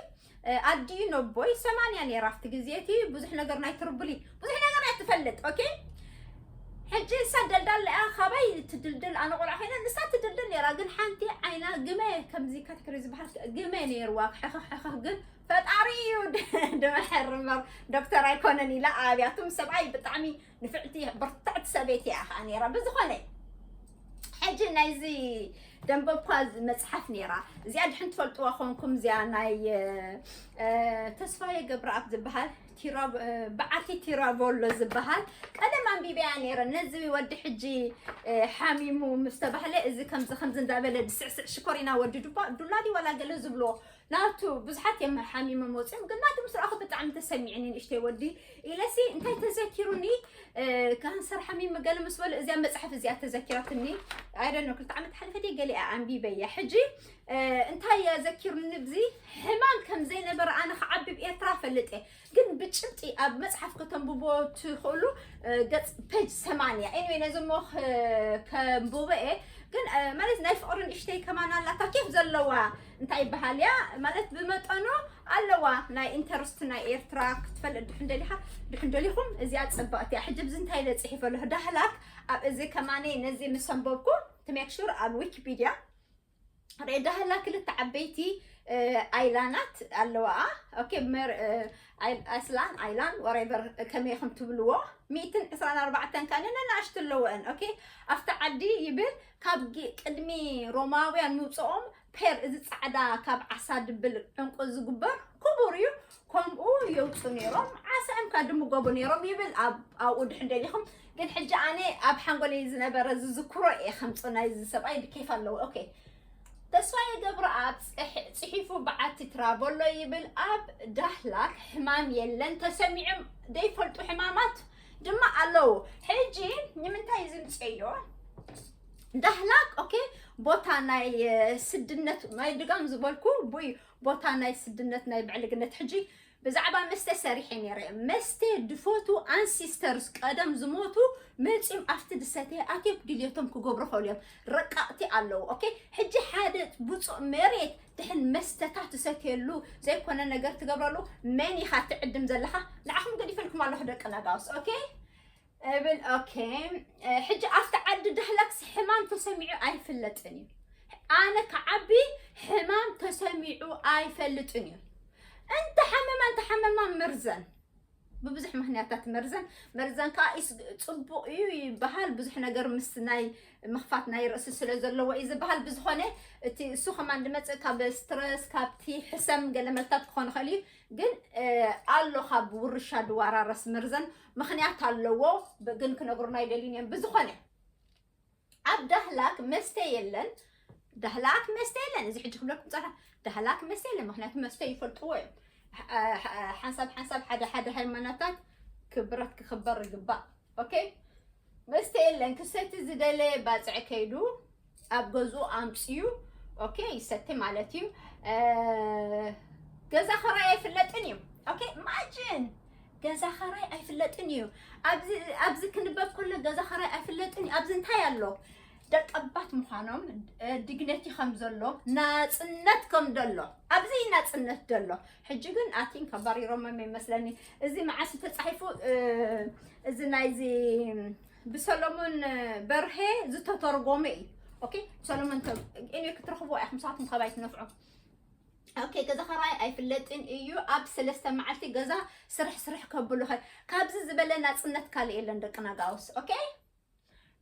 ኣዲኡ ነቦይ ሰማንያ ነይራ ኣብቲ ግዜ እቲ ብዙሕ ነገር ናይ ትርቡሊ ብዙሕ ነገር ናይ ትፈልጥ ኦኬ ሕጂ ንሳ ደልዳል እያ ካበይ ትድልድል ኣነ ቆልዓ ኮይነ ንሳ ትድልድል ነይራ ግን ሓንቲ ዓይና ግመ ከምዚ ካታግሪ ዝበሃል ግመ ነይርዋ ሕኽሕኽኽ ግን ፈጣሪ እዩ ድመሐር እምበር ዶክተር ኣይኮነን ኢላ ኣብያቱም ሰብኣይ ብጣዕሚ ንፍዕቲ ብርትዕቲ ሰበይቲ እያ ከዓ ነይራ ብዝኾነ ሕጂ ናይዚ ደንበኳ መፅሓፍ ነይራ እዚኣ ድሕን ትፈልጥዋ ኮንኩም እዚኣ ናይ ተስፋዬ ገብረኣብ ዝበሃል በዓቲ ቲራቮሎ ዝበሃል ቀደም ኣንቢበያ ነይረ ነዚ ወዲ ሕጂ ሓሚሙ ምስ ተባህለ እዚ ከምዚ ከምዚ እንዳበለ ድስዕስዕ ሽኮሪና ወዲ ዱባ ዱላዲ ዋላ ገለ ዝብልዎ ናቱ ብዙሓት እዮም ሓሚሞም ወፂኦም ግን ናቱ ምስ ረኣኹ ብጣዕሚ ተሰሚዕኒ ንእሽተይ ወዲ ኢለሲ እንታይ ተዘኪሩኒ ካንሰር ሓሚመ ገለ ምስ በሉ እዚኣ መፅሓፍ እዚኣ ተዘኪራትኒ ኣይደኖ ክልተ ዓመት ሓለፈት እየ ገሊኣ ኣንቢበያ ሕጂ እንታይ እያ ዘኪሩኒ ብዚ ሕማም ከም ዘይነበረ ኣነ ክዓቢ ብ ኤርትራ ፈልጥ እየ ግን ብጭብጢ ኣብ መጽሓፍ ከተንብቦ ትኽእሉ ገጽ ፔጅ ሰማንያ ኤኒዌይ ነዚ እሞ ከንብቦ እየ ግን ማለት ናይ ፍቕሪ ንእሽተይ ከማን ኣላታ ኬፍ ዘለዋ እንታይ ይበሃል እያ ማለት ብመጠኑ ኣለዋ ናይ ኢንተርስት ናይ ኤርትራ ክትፈልጥ ድሕን ደሊኻ ድሕን ደሊኹም እዚኣ ጽብቕቲ እያ ሕጂ ብዚ እንታይ ኢለ ጽሒፈ ኣለኹ ዳህላክ ኣብ እዚ ከማኒ ነዚ ምስ ኣንበብኩ ትሜክሹር ኣብ ዊኪፒድያ ሬዳህላ ክልተ ዓበይቲ ኣይላናት ኣለዋኣ ኦኬ መር ኣይስላን ኣይላን ወሬቨር ከመይ ከም ትብልዎ ሚእትን ዕስራን ኣርባዕተን ካን ነናእሽቱ ኣለወአን ኦኬ ኣብቲ ዓዲ ይብል ካብ ቅድሚ ሮማውያን ምውፅኦም ፔር እዚ ፃዕዳ ካብ ዓሳ ድብል ዕንቁ ዝግበር ክቡር እዩ ከምኡ የውጹ ነይሮም ዓሳኦም ከኣ ድምገቡ ነይሮም ይብል ኣብ ኣብኡ ድሕን ደሊኹም ግን ሕጂ ኣነ ኣብ ሓንጎለይ ዝነበረ ዝዝክሮ እየ ከምጽ ናይዚ ሰብኣይ ብኬፍ ኣለዎ ኦኬ ተስፋዬ ገብረኣብ ጽሕ- ጽሒፉ በዓቲ ትራበሎ ይብል ኣብ ዳህላክ ሕማም የለን ተሰሚዑም ዘይፈልጡ ሕማማት ድማ ኣለዉ ሕጂ ንምንታይ ዝምጸዮ ዳህላክ ኦኬ ቦታ ናይ እ፣ ስድነት ናይ ድጋም ዝበልኩ ቡይ ቦታ ናይ ስድነት ናይ ብዕልግነት ሕጂ ብዛዕባ መስተ ሰሪሐ ነይረ መስተ ድፈቱ ኣንሲስተርስ ቀደም ዝሞቱ መፂም ኣብቲ ድሰተ ኣትዮም ድልየቶም ክገብሩ ኸእሉ እዮም ረቃቕቲ ኣለዉ ኦኬ ሕጂ ሓደ ብፁእ መሬት ድሕን መስተታ ትሰትየሉ ዘይኮነ ነገር ትገብረሉ መን ኢኻ ትዕድም ዘለኻ ንዓኹም ገዲፈልኩም ኣለኹ ደቂ ነጋውስ ኦኬ እብል ኦኬ ሕጂ ኣብቲ ዓዲ ዳህላክስ ሕማም ተሰሚዑ ኣይፍለጥን እዩ ኣነ ክዓቢ ሕማም ተሰሚዑ ኣይፈልጥን እዩ እንተሓመማ እንተሓመማ መርዘን ብብዙሕ ምክንያታት መርዘን መርዘን ከዓ ፅቡቅ እዩ ይበሃል ብዙሕ ነገር ምስ ናይ ምክፋት ናይ ርእሲ ስለ ዘለዎ እዩ ዝበሃል ብዝኮነ እቲ እሱ ከማን ድመፅእ ካብ ስትረስ ካብቲ ሕሰም ገለ መልታት ክኾን ይኽእል እዩ ግን ኣሎ ካብ ውርሻ ድዋራረስ መርዘን ምኽንያት ኣለዎ ግን ክነግሩና ኣይደልዩን እዮም ብዝኾነ ኣብ ዳህላክ መስተ የለን ዳህላክ መስተ የለን እዚ ሕጂ ክብለኩም ፀራ ዳህላክ መስተ የለን ምክንያቱ መስተ ይፈልጥዎ እዮም ሓንሳብ ሓንሳብ ሓደ ሓደ ሃይማኖታት ክብረት ክኽበር ይግባእ ኦኬ መስተ የለን ክሰቲ ዝደለየ ባፅዕ ከይዱ ኣብ ገዝኡ ኣምፅኡ ኦኬ ይሰቲ ማለት እዩ ገዛ ኸራይ ኣይፍለጥን እዩ ኦኬ ማጅን ገዛ ኸራይ ኣይፍለጥን እዩ ኣብዚ ክንበብ ከሎ ገዛ ኸራይ ኣይፍለጥን እዩ ኣብዚ እንታይ ኣሎ ደቀባት ምዃኖም ድግነቲ ከም ዘሎ ናፅነት ከም ዘሎ ኣብዚ ናፅነት ዘሎ ሕጂ ግን ኣቲን ከባሪሮሞም ይመስለኒ እዚ መዓስ ተፃሒፉ እዚ ናይዚ ብሰሎሞን በርሄ ዝተተርጎመ እዩ ኦኬ ሰሎሞን እኔ ክትረኽብዎ ኢኹም ንሳትኩም ካባይ ትነፍዑ ኦኬ ገዛ ኸራይ ኣይፍለጥን እዩ ኣብ ሰለስተ መዓልቲ ገዛ ስራሕ ስራሕ ከብሉኸ ካብዚ ዝበለ ናፅነት ካልእ የለን ደቂ ናጋውስ ኦኬ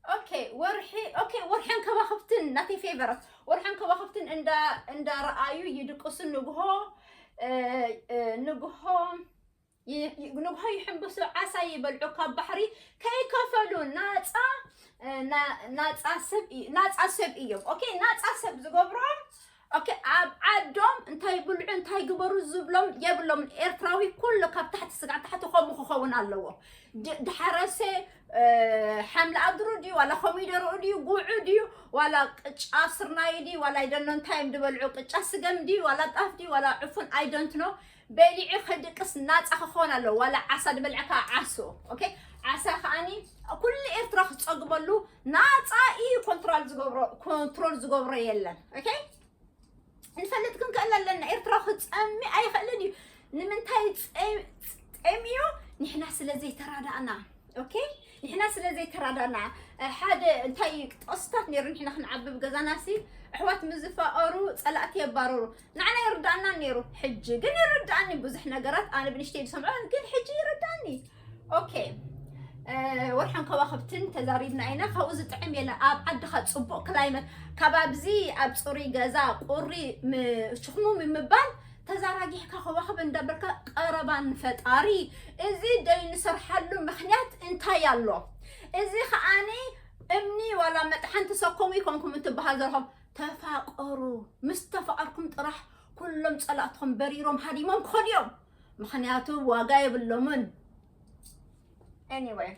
ኦኬ ወርሒ ኦኬ ወርሐን ከዋኽብትን ናተይ ፌቨረት ወርሐን ከዋኽብትን እንዳ እንዳረኣዩ ይድቅሱ ንግሆ ንግሆ ንግሆ ይሕምብሱ ዓሳ ይበልዑ ካብ ባሕሪ ከይከፈሉ ናፃ ናፃ ሰብ እዮም ኦኬ ናፃ ሰብ ዝገብሮም ኦኬ ኣብ ዓዶም እንታይ ብልዑ እንታይ ግበሩ ዝብሎም የብሎም ኤርትራዊ ኩሉ ካብ ታሕቲ ስጋዕ ታሕቲ ከምኡ ክኸውን ኣለዎ ድሓረሰ ሓምሊ ኣድሩ ድዩ ዋላ ኮሚደርኡ ድዩ ጉዑ ድዩ ዋላ ቅጫ ስርናይ ድዩ ዋላ ኣይደኖ እንታይ እዮም ድበልዑ ቅጫ ስገም ድዩ ዋላ ጣፍ ድዩ ዋላ ዕፉን ኣይደንትኖ በሊዑ ከድቅስ ናጻ ክኾን ኣለዎ ዋላ ዓሳ ድበልዐ ከዓ ዓሶ ኦኬ ዓሳ ከዓኒ ኩሉ ኤርትራ ክጸግበሉ ናጻ እዩ ኮንትሮል ዝገብሮ ኮንትሮል ዝገብሮ የለን ኦኬ ንፈልጥ ክንክእል ኣለና ኤርትራ ክጸሚ ኣይኽእልን እዩ ንምንታይ ጸሚዩ ንሕና ስለ ዘይተራዳእና ኦኬ ንሕና ስለ ዘይተራዳእና ሓደ እንታይ እዩ ጥቕስታት ነይሩ ንሕና ክንዓብብ ገዛናሲ ኣሕዋት ምስ ዝፋቐሩ ጸላእቲ የባርሩ ንዓና ይርድኣናን ነይሩ ሕጂ ግን ይርድኣኒ ብዙሕ ነገራት ኣነ ብንሽተይ ዝሰምዖ ግን ሕጂ ይርድኣኒ ኦኬ ወርሐን ከዋኽብትን ተዛሪብና ኢና ካብኡ ዝጥዕም የለ ኣብ ዓድኻ ፅቡቕ ክላይመት ካብ ኣብዚ ኣብ ፅሩይ ገዛ ቁሪ ሽክሙ ምባል ተዛራጊሕካ ከዋኽብ እንዳበልካ ቀረባ ንፈጣሪ እዚ ዘይንሰርሓሉ ምክንያት እንታይ ኣሎ እዚ ከዓኒ እምኒ ዋላ መጥሓን ተሰከሙ ይኮንኩም እንትበሃል ዘለኹም ተፋቀሩ ምስ ተፋቀርኩም ጥራሕ ኩሎም ጸላእትኹም በሪሮም ሃዲሞም ክኸዱ እዮም ምኽንያቱ ዋጋ የብሎምን ኤኒዌይ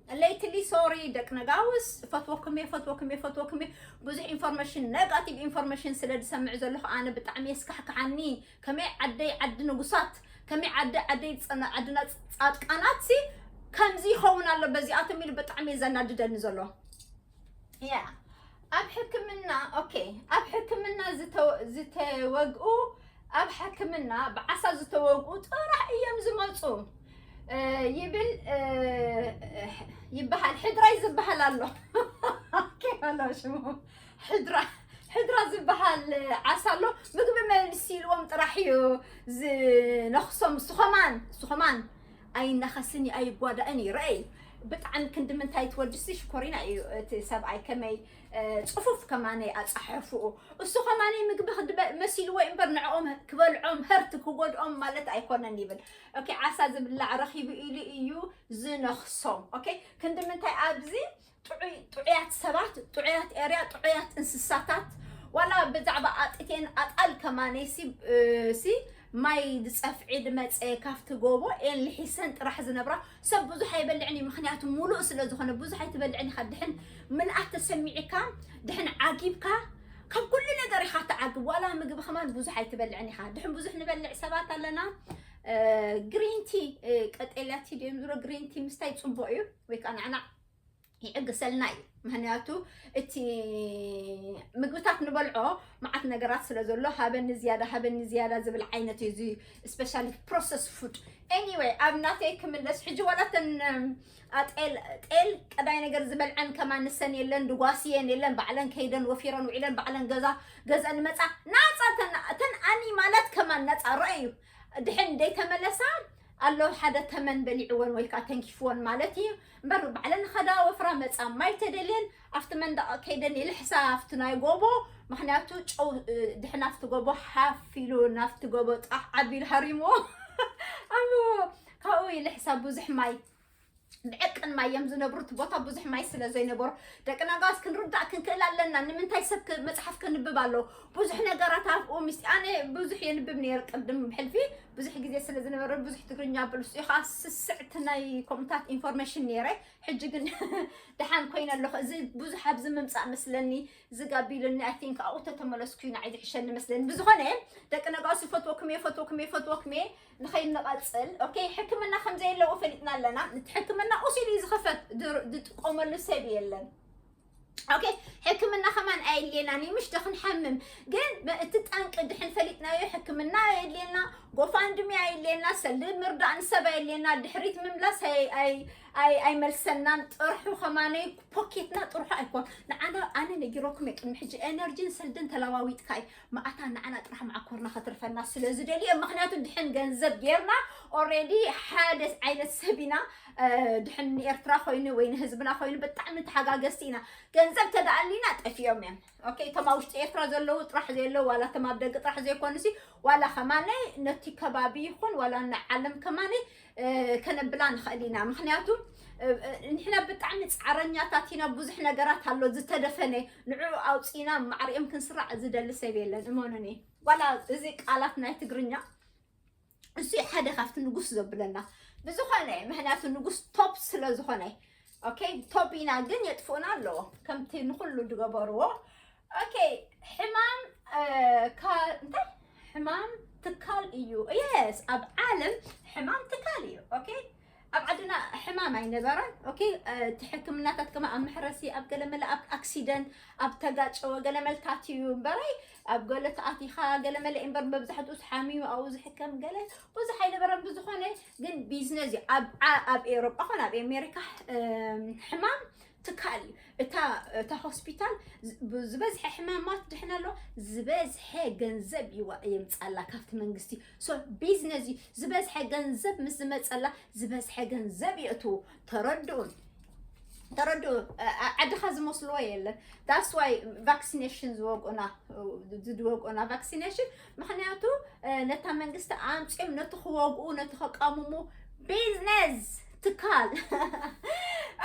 ሌትሊ ሶሪ ደቂ ነጋውስ ፈትወኩም እየ ፈትወኩም እየ ፈትወኩም እየ ብዙሕ ኢንፎርሜሽን ነጋቲቭ ኢንፎርሜሽን ስለ ዝሰምዕ ዘለኹ ኣነ ብጣዕሚ የስካሕክሓኒ ከመይ ዓደይ ዓዲ ንጉሳት ከመይ ዓዲ ዓደይ ፀና- ዓድና ፃድቃናት ሲ ከምዚ ይኸውን ኣሎ በዚኣቶም ኢሉ ብጣዕሚ እዩ ዘናድደኒ ዘሎ ያ ኣብ ሕክምና ኦኬ ኣብ ሕክምና ዝተወ- ዝተወግኡ ኣብ ሕክምና ብዓሳ ዝተወግኡ ጥራሕ እዮም ዝመፁ እ፣ ይብል እ፣ ይበሃል ሕድራይ ዝበሃል ኣሎ ኦኬ ኣሎ ሽሙ ሕድራ ሕድራ ዝበሃል ዓሳ ኣሎ ምግቢ መልሲ ኢልዎም ጥራሕ እዩ ዝነኽሶም ስኾማን ስኾማን ኣይናኸስን እዩ ኣይጓዳእን እዩ ረኣይ ብጣዕሚ ክንዲ ምንታይ ትወድሲ ሽኮሪና እዩ እቲ ሰብኣይ ከመይ ጽፉፍ ከማነይ ኣጻሕሕፉኡ እሱ ከማነይ ምግቢ ክድበ መሲልዎ እዩ እምበር ንዕኦም ክበልዖም ህርት ክጎድኦም ማለት ኣይኮነን ይብል ኦኬ ዓሳ ዝብላዕ ረኺቡ ኢሉ እዩ ዝነኽሶም ኦኬ ክንዲ ምንታይ ኣብዚ ጥዑይ ጥዑያት ሰባት ጥዑያት ኤርያ ጥዑያት እንስሳታት ዋላ ብዛዕባ ኣጥቴን ኣጣል ከማነይ ሲ እ፣ ሲ ማይ ዝፀፍዒ ድመፀ ካብቲ ጎቦ ኤን ልሒሰን ጥራሕ ዝነብራ ሰብ ብዙሕ ኣይበልዕን እዩ ምክንያቱ ሙሉእ ስለ ዝኾነ ብዙሕ ኣይትበልዕን ኢኻ ድሕን ምልኣት ተሰሚዕካ ድሕን ዓጊብካ ካብ ኩሉ ነገር ኢኻ ትዓግብ ዋላ ምግቢ ከማን ብዙሕ ኣይትበልዕን ኢኻ ድሕን ብዙሕ ንበልዕ ሰባት ኣለና ግሪንቲ ቀጤልያ ቲ ድዮም ዝብሎ ግሪንቲ ምስታይ ፅቡቅ እዩ ወይ ከዓ ናዕናዕ ይዕግሰልና እዩ ምክንያቱ እቲ ምግብታት ንበልዖ መዓት ነገራት ስለ ዘሎ ሃበኒ ዝያዳ ሃበኒ ዝያዳ ዝብል ዓይነት እዩ እዚ ስፔሻሊ ፕሮሰስ ፉድ ኤኒወይ ኣብ ናተይ ክምለስ ሕጂ ዋላተን ጤል ጤል ቀዳይ ነገር ዝበልዐን ከማን ንሰን የለን ድጓስየን የለን ባዕለን ከይደን ወፊረን ውዒለን ባዕለን ገዛ ገዘን መፃ ናፃ ተን ኣኒ ማለት ከማን ነፃ ረአዩ ድሕን ደይተመለሳ ኣሎ ሓደ ተመን በሊዕወን ወይ ከዓ ተንኪፍወን ማለት እዩ እምበር ባዕለን ኸዳ ወፍራ መፃ ማይ ተደልየን ኣብቲ መንደቕ ከይደን ይልሕሳ ኣብቲ ናይ ጎቦ ምክንያቱ ጨው ድሕን ኣብቲ ጎቦ ሓፍ ኢሉ ናብቲ ጎቦ ጣሕ ዓቢሉ ሃሪምዎ ኣምዎ ካብኡ ይልሕሳ ብዙሕ ማይ ብዕቅን ማይ እዮም ዝነብሩ እቲ ቦታ ብዙሕ ማይ ስለ ዘይነበሮ ደቂ ነጋስ ክንርዳእ ክንክእል ኣለና ንምንታይ ሰብ መፅሓፍ ከንብብ ኣሎ ብዙሕ ነገራት ኣብኡ ምስ ኣነ ብዙሕ የንብብ ነይር ቅድም ሕልፊ ብዙሕ ግዜ ስለ ዝነበረ ብዙሕ ትግርኛ ብልሱ እዩ ከዓ ስስዕቲ ናይ ኮምታት ኢንፎርሜሽን ነይረ ሕጂ ግን ድሓን ኮይነ ኣለኹ እዚ ብዙሕ ኣብዚ ምምፃእ መስለኒ ዝጋቢሉኒ ኣይ ቲንክ ኣብኡ ተተመለስኩ ኢና ዝሕሸኒ መስለኒ ብዝኾነ ደቂ ነጋስ ይፈትወኩም እየ ፈትወኩም እየ ፈትወኩም እየ ንኸይንቐፅል ኦኬ ሕክምና ከምዘየለዎ ፈሊጥና ኣለና እቲ ሕክምና ቁሲሉ እዩ ዝኽፈት ድር- ዝጥቀመሉ ሰብ የለን ኦኬ ሕክምና ከማን ኣየድልየናን እዩ ምሽቶ ክንሓምም ግን መ- እቲ ጠንቂ ድሕን ፈሊጥናዮ ሕክምና ኣየድልየና ጎፋንድሚ ኣየድልየና ሰልዲ ምርዳእ ንሰብ ኣየድልየና ድሕሪት ምምላስ ኣይ- ኣይ- ኣይ- ኣይመልሰናን ጥርሑ ከማነይ ፖኬትና ጥርሑ ኣይኮን ንዓና ኣነ ነጊረኩም እየ ቅድሚ ሕጂ ኤነርጂን ሰልድን ተለዋዊጥካ እዩ መኣታ ንዓና ጥራሕ መዓኮርና ከትርፈና ስለ ዝደልየ ምክንያቱ ድሕን ገንዘብ ጌርና ኦሬዲ ሓደ ዓይነት ሰብ ኢና ድሕን ንኤርትራ ኮይኑ ወይ ንህዝብና ኮይኑ ብጣዕሚ ተሓጋገዝቲ ኢና ገንዘብ ተደኣሊና ጠፊኦም እዮም ኦኬ እቶም ኣብ ውሽጢ ኤርትራ ዘለዉ ጥራሕ ዘየለዉ ዋላ እቶም ኣብ ደቂ ጥራሕ ዘይኮኑ ሲ ዋላ ከማነይ ነቲ ከባቢ ይኹን ዋላ ንዓለም ከማነይ ከነብላ ንኽእል ኢና ምክንያቱ ንሕና ብጣዕሚ ፃዕረኛታት ኢና ብዙሕ ነገራት ኣሎ ዝተደፈነ ንዕኡ ኣውፂና ማዕሪኦም ክንስራዕ ዝደሊ ሰብ የለን እመኑኒ ዋላ እዚ ቃላት ናይ ትግርኛ እሱ ሓደ ካብቲ ንጉስ ዘብለና ብዝኾነ ምክንያቱ ንጉስ ቶፕ ስለ ዝኾነ ኦኬ ቶቢና ግን የጥፍኡና ኣለዎ ከምቲ ንኩሉ ዝገበርዎ ኦኬ ሕማም እንታይ ሕማም ትካል እዩ የስ ኣብ ዓለም ሕማም ትካል እዩ ኦኬ ኣብ ዓድና ሕማም ኣይነበረን ኦኬ እቲ ሕክምናታት ከማ ኣብ መሕረሲ ኣብ ገለመለ ኣብ ኣክሲደንት ኣብ ተጋጨወ ገለመልታት እዩ እምበረይ ኣብ ገለ ተኣቲኻ ገለመለ እምበር መብዛሕትኡ ሓሚሙ ኣብኡ ዝሕከም ገለ ብዙሕ ኣይነበረን ብዝኾነ ግን ቢዝነስ እዩ ኣብ ኤሮጳ ኮነ ኣብ ኣሜሪካ ሕማም ትካል እዩ እታ ሆስፒታል ዝበዝሐ ሕማማት ድሕን ኣሎ ዝበዝሐ ገንዘብ ይዋ የምፃላ ካብቲ መንግስቲ ሶ ቢዝነስ እዩ ዝበዝሐ ገንዘብ ምስ ዝመፀላ ዝበዝሐ ገንዘብ የእትዉ ተረድኡን ተረዱ ዓድኻ ዝመስልዎ የለን ዳስ ዋይ ቫክሲኔሽን ዝወቅኡና ዝወቅኡና ቫክሲኔሽን ምኽንያቱ ነታ መንግስቲ ኣምፅኦም ነቲ ክወግኡ ነቲ ከቃምሙ ቢዝነስ ትካል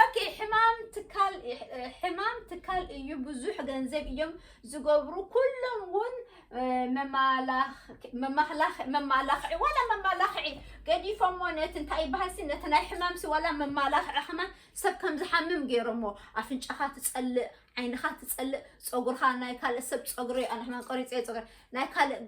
ኦኬ ሕማም ትካል ሕማም ትካል እዩ ብዙሕ ገንዘብ እዮም ዝገብሩ ኩሎም እውን መማላኽዒ ዋላ መማላኽዒ ገዲፎሞ ነቲ እንታይ ይበሃልሲ ነቲ ናይ ሕማምሲ ዋላ መማላኽዒ ከማን ሰብ ከም ዝሓምም ገይሮሞ ኣፍንጫኻ ትፀልእ ዓይንኻ ትጸልእ ፀጉርኻ ናይ ካልእ ሰብ ፀጉሪ ኣነ ሕማም ቆሪፀ ፀጉሪ ናይ ካልእ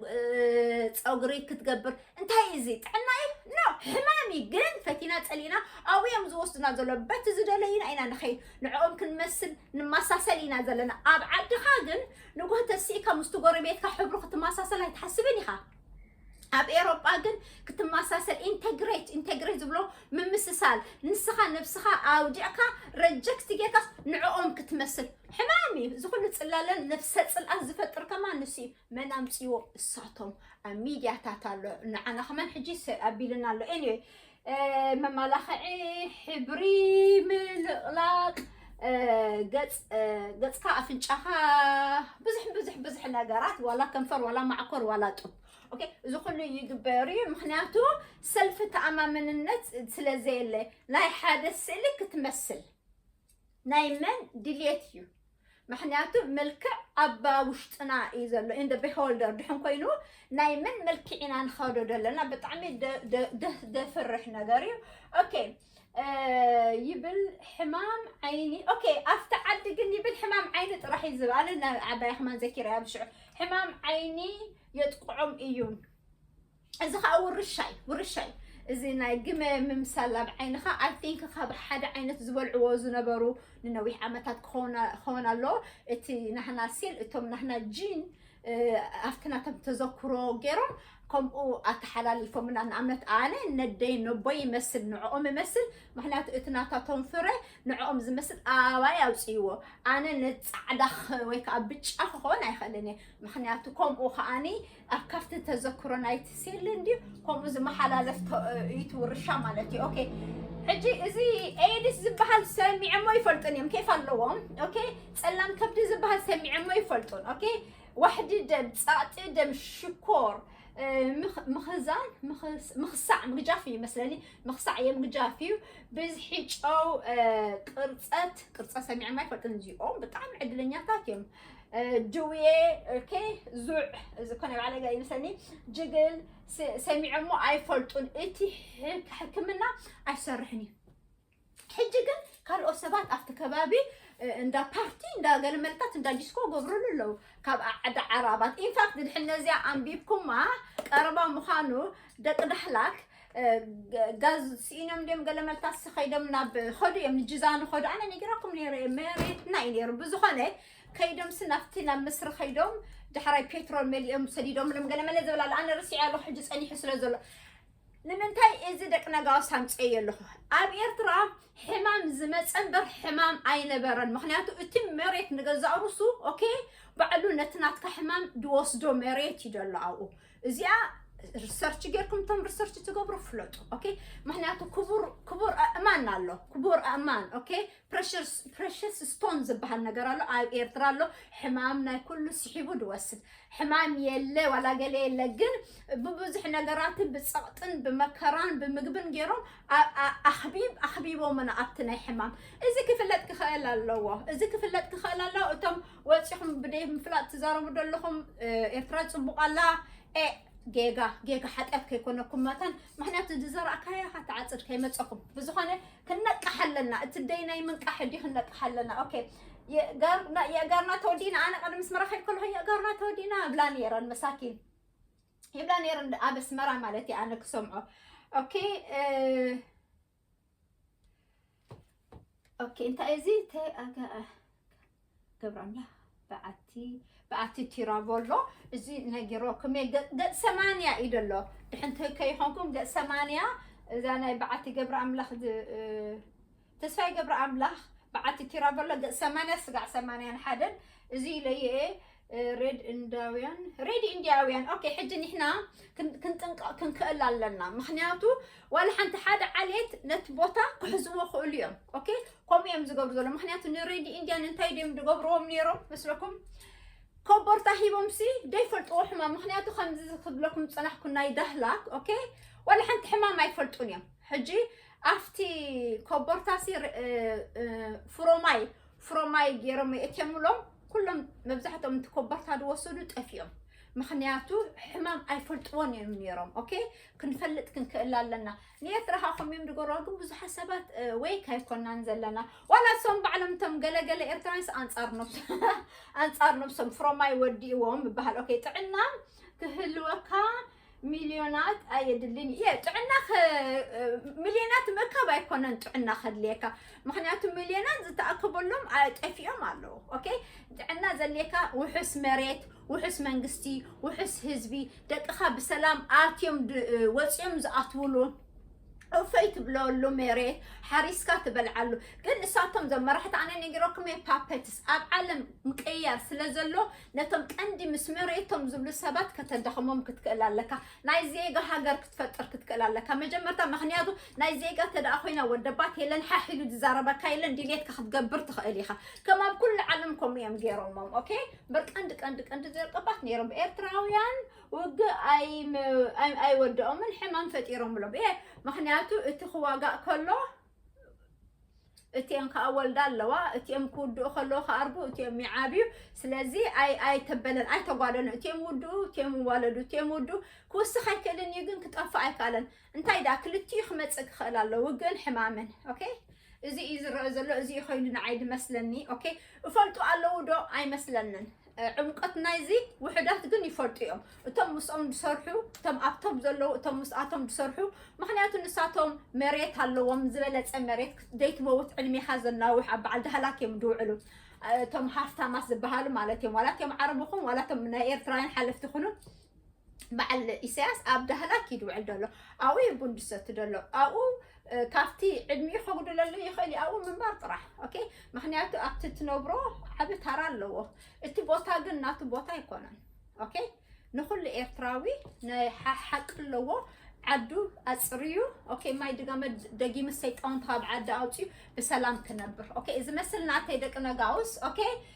ፀጉሪ ክትገብር እንታይ እዩ እዚ ጥዕና እዩ ኖ ሕማም እዩ ግን ፈቲና ፀሊእና ኣብኡ እዮም ዝወስዱና ዘሎ በቲ ዝደለዩና ኢና ንኸይድ ንዕኦም ክንመስል ንመሳሰል ኢና ዘለና ኣብ ዓድኻ ግን ንጎህ ተሲእካ ምስቲ ጎረቤትካ ሕብሩ ክትመሳሰል ኣይትሓስብን ኢኻ ኣብ ኤሮጳ ግን ክትመሳሰል ኢንተግሬት ኢንተግሬት ዝብሎ ምምስሳል ንስኻ ነብስኻ ኣውዲዕካ ረጀክት ጌርካስ ንዕኦም ክትመስል ሕማም እዩ እዚ ኩሉ ፅላለን ነብሰ ፅልኣት ዝፈጥር ከማ ንሱ እዩ መን ኣምፅዎ እሳቶም ኣብ ሚድያታት ኣሎ ንዓና ከማን ሕጂ ኣቢልና ኣሎ ኤኒዌይ መማላኽዒ ሕብሪ ምልቕላቕ ገፅካ ኣፍንጫኻ ብዙሕ ብዙሕ ብዙሕ ነገራት ዋላ ከንፈር ዋላ ማዕኮር ዋላ ጡብ ኦኬ እዚ ኩሉ ይግበር እዩ ምክንያቱ ሰልፊ ተኣማምንነት ስለ ዘየለ ናይ ሓደ ስእሊ ክትመስል ናይ መን ድሌት እዩ ምክንያቱ መልክዕ ኣባ ውሽጥና እዩ ዘሎ ኢን ቢሆልደር ድሕን ኮይኑ ናይ መን መልክዕ ኢና ንኸዶ ዘለና ብጣዕሚ ደፍርሕ ነገር እዩ ኦኬ ይብል ሕማም ዓይኒ ኦኬ ኣብቲ ዓዲ ግን ይብል ሕማም ዓይኒ ጥራሕ እዩ ዝብኣለ ዓባይ ክማን ዘኪረ ኣብ ሽዑ ሕማም ዓይኒ የጥቅዖም እዩ እዚ ከዓ ውርሻ እዩ ውርሻ እዩ እዚ ናይ ግመ ምምሳል ኣብ ዓይንኻ ኣይ ቲንክ ካብ ሓደ ዓይነት ዝበልዕዎ ዝነበሩ ንነዊሕ ዓመታት ክኸውን ኣለዎ እቲ ናህና ሲል እቶም ናህና ጂን ኣብቲ ናቶም ተዘክሮ ገይሮም ከምኡ ኣተሓላሊፎምና ንኣብነት ኣነ ነደይ ነቦይ ይመስል ንዕኦም ይመስል ምክንያቱ እቲ ናታቶም ፍረ ንዕኦም ዝመስል ኣባይ ኣውፅእዎ ኣነ ንፃዕዳ ወይ ከዓ ብጫ ክኸውን ኣይኽእልን እየ ምክንያቱ ከምኡ ከዓኒ ኣብ ካብቲ ተዘክሮ ናይቲ ሴል እንድዩ ከምኡ ዝመሓላለፍ ተ- እዩ እቲ ውርሻ ማለት እዩ ኦኬ ሕጂ እዚ ኤድስ ዝበሃል ሰሚዐሞ ይፈልጡን እዮም ኬፍ ኣለዎም ኦኬ ፀላም ከብዲ ዝበሃል ሰሚዐሞ ይፈልጡን ኦኬ ዋሕዲ ደም ፃዕጢ ደም ሽኮር እ፣ ምኽ- ምኽዛን ምኽስ- ምኽሳዕ ምግጃፍ እዩ መስለኒ ምኽሳዕ እየ ምግጃፍ እዩ ብዝሒ ጨው እ፣ ቅርፀት ቅርፀት ሰሚዐማ ይፈልጡን እዚኦም ብጣዕሚ ዕድለኛታት እዮም ጅውየ ኦኬ ዙዕ ዝኾነ ባዕለ ገ ይምሰኒ ጅግል ሰሚዖሞ ኣይፈልጡን እቲ ሕክምና ኣይሰርሕን እዩ ሕጂ ግን ካልኦት ሰባት ኣብቲ ከባቢ እንዳ ፓርቲ እንዳ ገለመለታት እንዳ ዲስኮ ገብርሉ ኣለዉ ካብ ዓዲ ዓራባት ኢንፋክት ድሕነዚያ ኣንቢብኩማ ቀረባ ምዃኑ ደቂ ዳህላክ ጋዝ ስኢኖም ድዮም ገለ መልካስ ከይዶም ናብ ኸዱ እዮም ንጅዛኑ ኸዱ ኣነ ነጊራኩም ነይረ እየ መሬትና እዩ ነይሩ ብዝኾነ ከይዶምሲ ናብቲ ናብ ምስሪ ከይዶም ዳሕራይ ፔትሮል መሊኦም ሰዲዶምሎም ገለ መለ ዝብል ኣሎ ኣነ ርስዒ ኣለኹ ሕጂ ጸኒሑ ስለ ዘሎ ንምንታይ እዚ ደቂ ነጋውስ ኣምፀየ ኣለኹ ኣብ ኤርትራ ሕማም ዝመፀ እምበር ሕማም ኣይነበረን ምክንያቱ እቲ መሬት ንገዛእ ርሱ ኦኬ ባዕሉ ነቲ ናትካ ሕማም ድወስዶ መሬት እዩ ዘሎ ኣብኡ እዚኣ ሪሰርች ጌርኩም እቶም ሪሰርች ትገብሩ ፍለጡ ኦኬ ምክንያቱ ክቡር ክቡር ኣእማን ኣሎ ክቡር ኣእማን ኦኬ ፕሬሽስ ስቶን ዝበሃል ነገር ኣሎ ኣብ ኤርትራ ኣሎ ሕማም ናይ ኩሉ ስሒቡ ድወስድ ሕማም የለ ዋላ ገለ የለ ግን ብብዙሕ ነገራትን ብፀቕጥን ብመከራን ብምግብን ገይሮም ኣብ- ኣ- ኣኽቢብ ኣኽቢቦምና ኣብቲ ናይ ሕማም እዚ ክፍለጥ ክኽእል ኣለዎ እዚ ክፍለጥ ክኽእል ኣለዎ እቶም ወፂኹም ብደይ ምፍላጥ ትዛረቡ ዘለኹም ኤርትራ ፅቡቕ ኣላ ኤ ጌጋ ጌጋ ሓጢኣት ከይኮነኩም መታን ምክንያቱ ዝዘራእካያ ኢኻ ትዓፅድ ከይመፀኹም ብዝኾነ ክንነቅሕ ኣለና እቲ ደይ ናይ ምንቃሕ ዲ ክንነቅሕ ኣለና ኦኬ የእጋርና ተወዲና ኣነ ቀደም ስመራ ከይድ ከለኹ የእጋርና ተወዲና እብላ ነይረን መሳኪን ይብላ ነይረን ኣብ ኣስመራ ማለት እየ ኣነ ክሰምዖ ኦኬ ኦኬ እንታይ እዚ ገብረ ኣምላኽ በዓቲ በዓቲ ቲራቮሎ እዚ ነጊሮኩም እየ ገፅ ሰማንያ እዩ ዘሎ ድሕን ትህከ ይኾንኩም ገፅ ሰማንያ እዛ ናይ በዓቲ ገብረ ኣምላኽ ተስፋይ ገብረ ኣምላኽ በዓቲ ቲራቮሎ ገፅ ሰማንያ ስጋዕ ሰማንያን ሓደን እዚ ኢለየ ሬድ እንዳውያን ሬድ ኢንዲያውያን ኦኬ ሕጂ ንሕና ክን- ክንጥንቀቕ ክንክእል ኣለና ምክንያቱ ዋላ ሓንቲ ሓደ ዓሌት ነቲ ቦታ ክሕዝዎ ክእሉ እዮም ኦኬ ከምኡ እዮም ዝገብሩ ዘሎ ምክንያቱ ንሬድ ኢንዲያን እንታይ ድዮም ዝገብርዎም ነይሮም መስለኩም ኮቦርታ ሂቦም ሲ ዘይፈልጥዎ ሕማም ምክንያቱ ከምዚ ክብለኩም ዝፀናሕኩ ናይ ዳህላክ ኦኬ ዋላ ሓንቲ ሕማም ኣይፈልጡን እዮም ሕጂ ኣብቲ ኮቦርታ ሲ ር- እ- እ- ፍሮማይ ፍሮማይ ገይሮም የእትየምሎም ኩሎም መብዛሕትኦም እቲ ኮበርታ ዝወሰዱ ጠፊኦም ምክንያቱ ሕማም ኣይፈልጥዎን እዮም ነይሮም ኦኬ ክንፈልጥ ክንክእል ኣለና ንኤርትራ ካ ከምዮም ዝገርዋ ግን ብዙሓት ሰባት እ፣ ወይ ካይኮናን ዘለና ዋላ እሶም ባዕሎም እቶም ገለገለ ኤርትራንስ ኣንጻር ነብሶ ኣንጻር ነብሶም ፍሮማይ ወዲእዎም ይበሃል ኦኬ ጥዕና ክህልወካ ሚልዮናት ኣየድልን እዩ እየ ጥዕና ሚልዮናት ምርካብ ኣይኮነን ጥዕና ከድልየካ ምክንያቱ ሚልዮናት ዝተኣከበሎም ጠፊኦም ኣለዉ ኦኬ ጥዕና ዘድልየካ ውሑስ መሬት ውሑስ መንግስቲ ውሑስ ህዝቢ ደቅኻ ብሰላም ኣትዮም ወፂኦም ዝኣትውሉ እፎይ ትብለሉ መሬት ሓሪስካ ትበልዓሉ ግን እሳቶም ዞም መራሕቲ ኣነ ነጊረኩም እየ ፓፐትስ ኣብ ዓለም ምቅያር ስለ ዘሎ ነቶም ቀንዲ ምስ መሬቶም ዝብሉ ሰባት ከተዳኽሞም ክትክእል ኣለካ ናይ ዜጋ ሃገር ክትፈጥር ክትክእል ኣለካ መጀመርታ ምክንያቱ ናይ ዜጋ ተደኣ ኮይና ወደባት የለን ሓሒሉ ዝዛረበካ የለን ድሌትካ ክትገብር ትኽእል ኢኻ ከም ኣብ ኩሉ ዓለም ከምኡ እዮም ገይሮሞም ኦኬ በር ቀንዲ ቀንዲ ቀንዲ ዘርቀባት ነይሮም ኤርትራውያን ውግእ ኣይወደኦምን ሕማም ፈጢሮምሎም እየ ምክንያቱ እቲ ክዋጋእ ከሎ እትም ከዓ ወልዳ ኣለዋ እትም ክውድኡ ከለዉ ክኣርጉ እትም ይዓብዩ ስለዚ ኣይተበለን ኣይተጓደሉ እትም ውድኡ እትም ዋለዱ እትም ውድኡ ክውስኽ ኣይክእልን እዩ ግን ክጠፍእ ኣይከኣለን እንታይ ደኣ ክልቲኡ ክመጽእ ክኽእል ኣሎ ውግእን ሕማምን ኦኬ እዚ እዩ ዝረአ ዘሎ እዚ እዩ ኮይኑ ንዓይ ዝመስለኒ ኦኬ እፈልጡ ኣለዉ ዶ ኣይመስለንን ዕምቀት ናይዚ ውሕዳት ግን ይፈልጡ እዮም እቶም ምስኦም ዝሰርሑ እቶም ኣብቶም ዘለዉ እቶም ምስኣቶም ዝሰርሑ ምክንያቱ ንሳቶም መሬት ኣለዎም ዝበለፀ መሬት ዘይትመውት ዕድሜኻ ዘናውሕ ኣብ በዓል ዳህላክ እዮም ዝውዕሉ እቶም ሃፍታማት ዝበሃሉ ማለት እዮም ዋላ እቶም ዓረብ ይኹን ዋላ እቶም ናይ ኤርትራውያን ሓለፍቲ ይኹኑ በዓል ኢሳያስ ኣብ ዳህላክ እዩ ድውዕል ደሎ ኣብኡ እዩ ቡን ድሰቲ ደሎ ኣብኡ ካብቲ ዕድሚኡ ከጉድለሉ ይኽእል እዩ ኣብኡ ምንባር ጥራሕ ኦኬ ምክንያቱ ኣብቲ ትነብሮ ዓብ ታራ ኣለዎ እቲ ቦታ ግን ናቱ ቦታ ኣይኮነን ኦኬ ንኩሉ ኤርትራዊ ናይ ሓቂ ኣለዎ ዓዱ ኣፅርዩ ኦኬ ማይ ድጋመ ደጊሚ ሰይጣውንቲ ካብ ዓዲ ኣውፅዩ ብሰላም ክነብር ኦኬ እዚ መስል ናተይ ደቂ ነጋውስ ኦኬ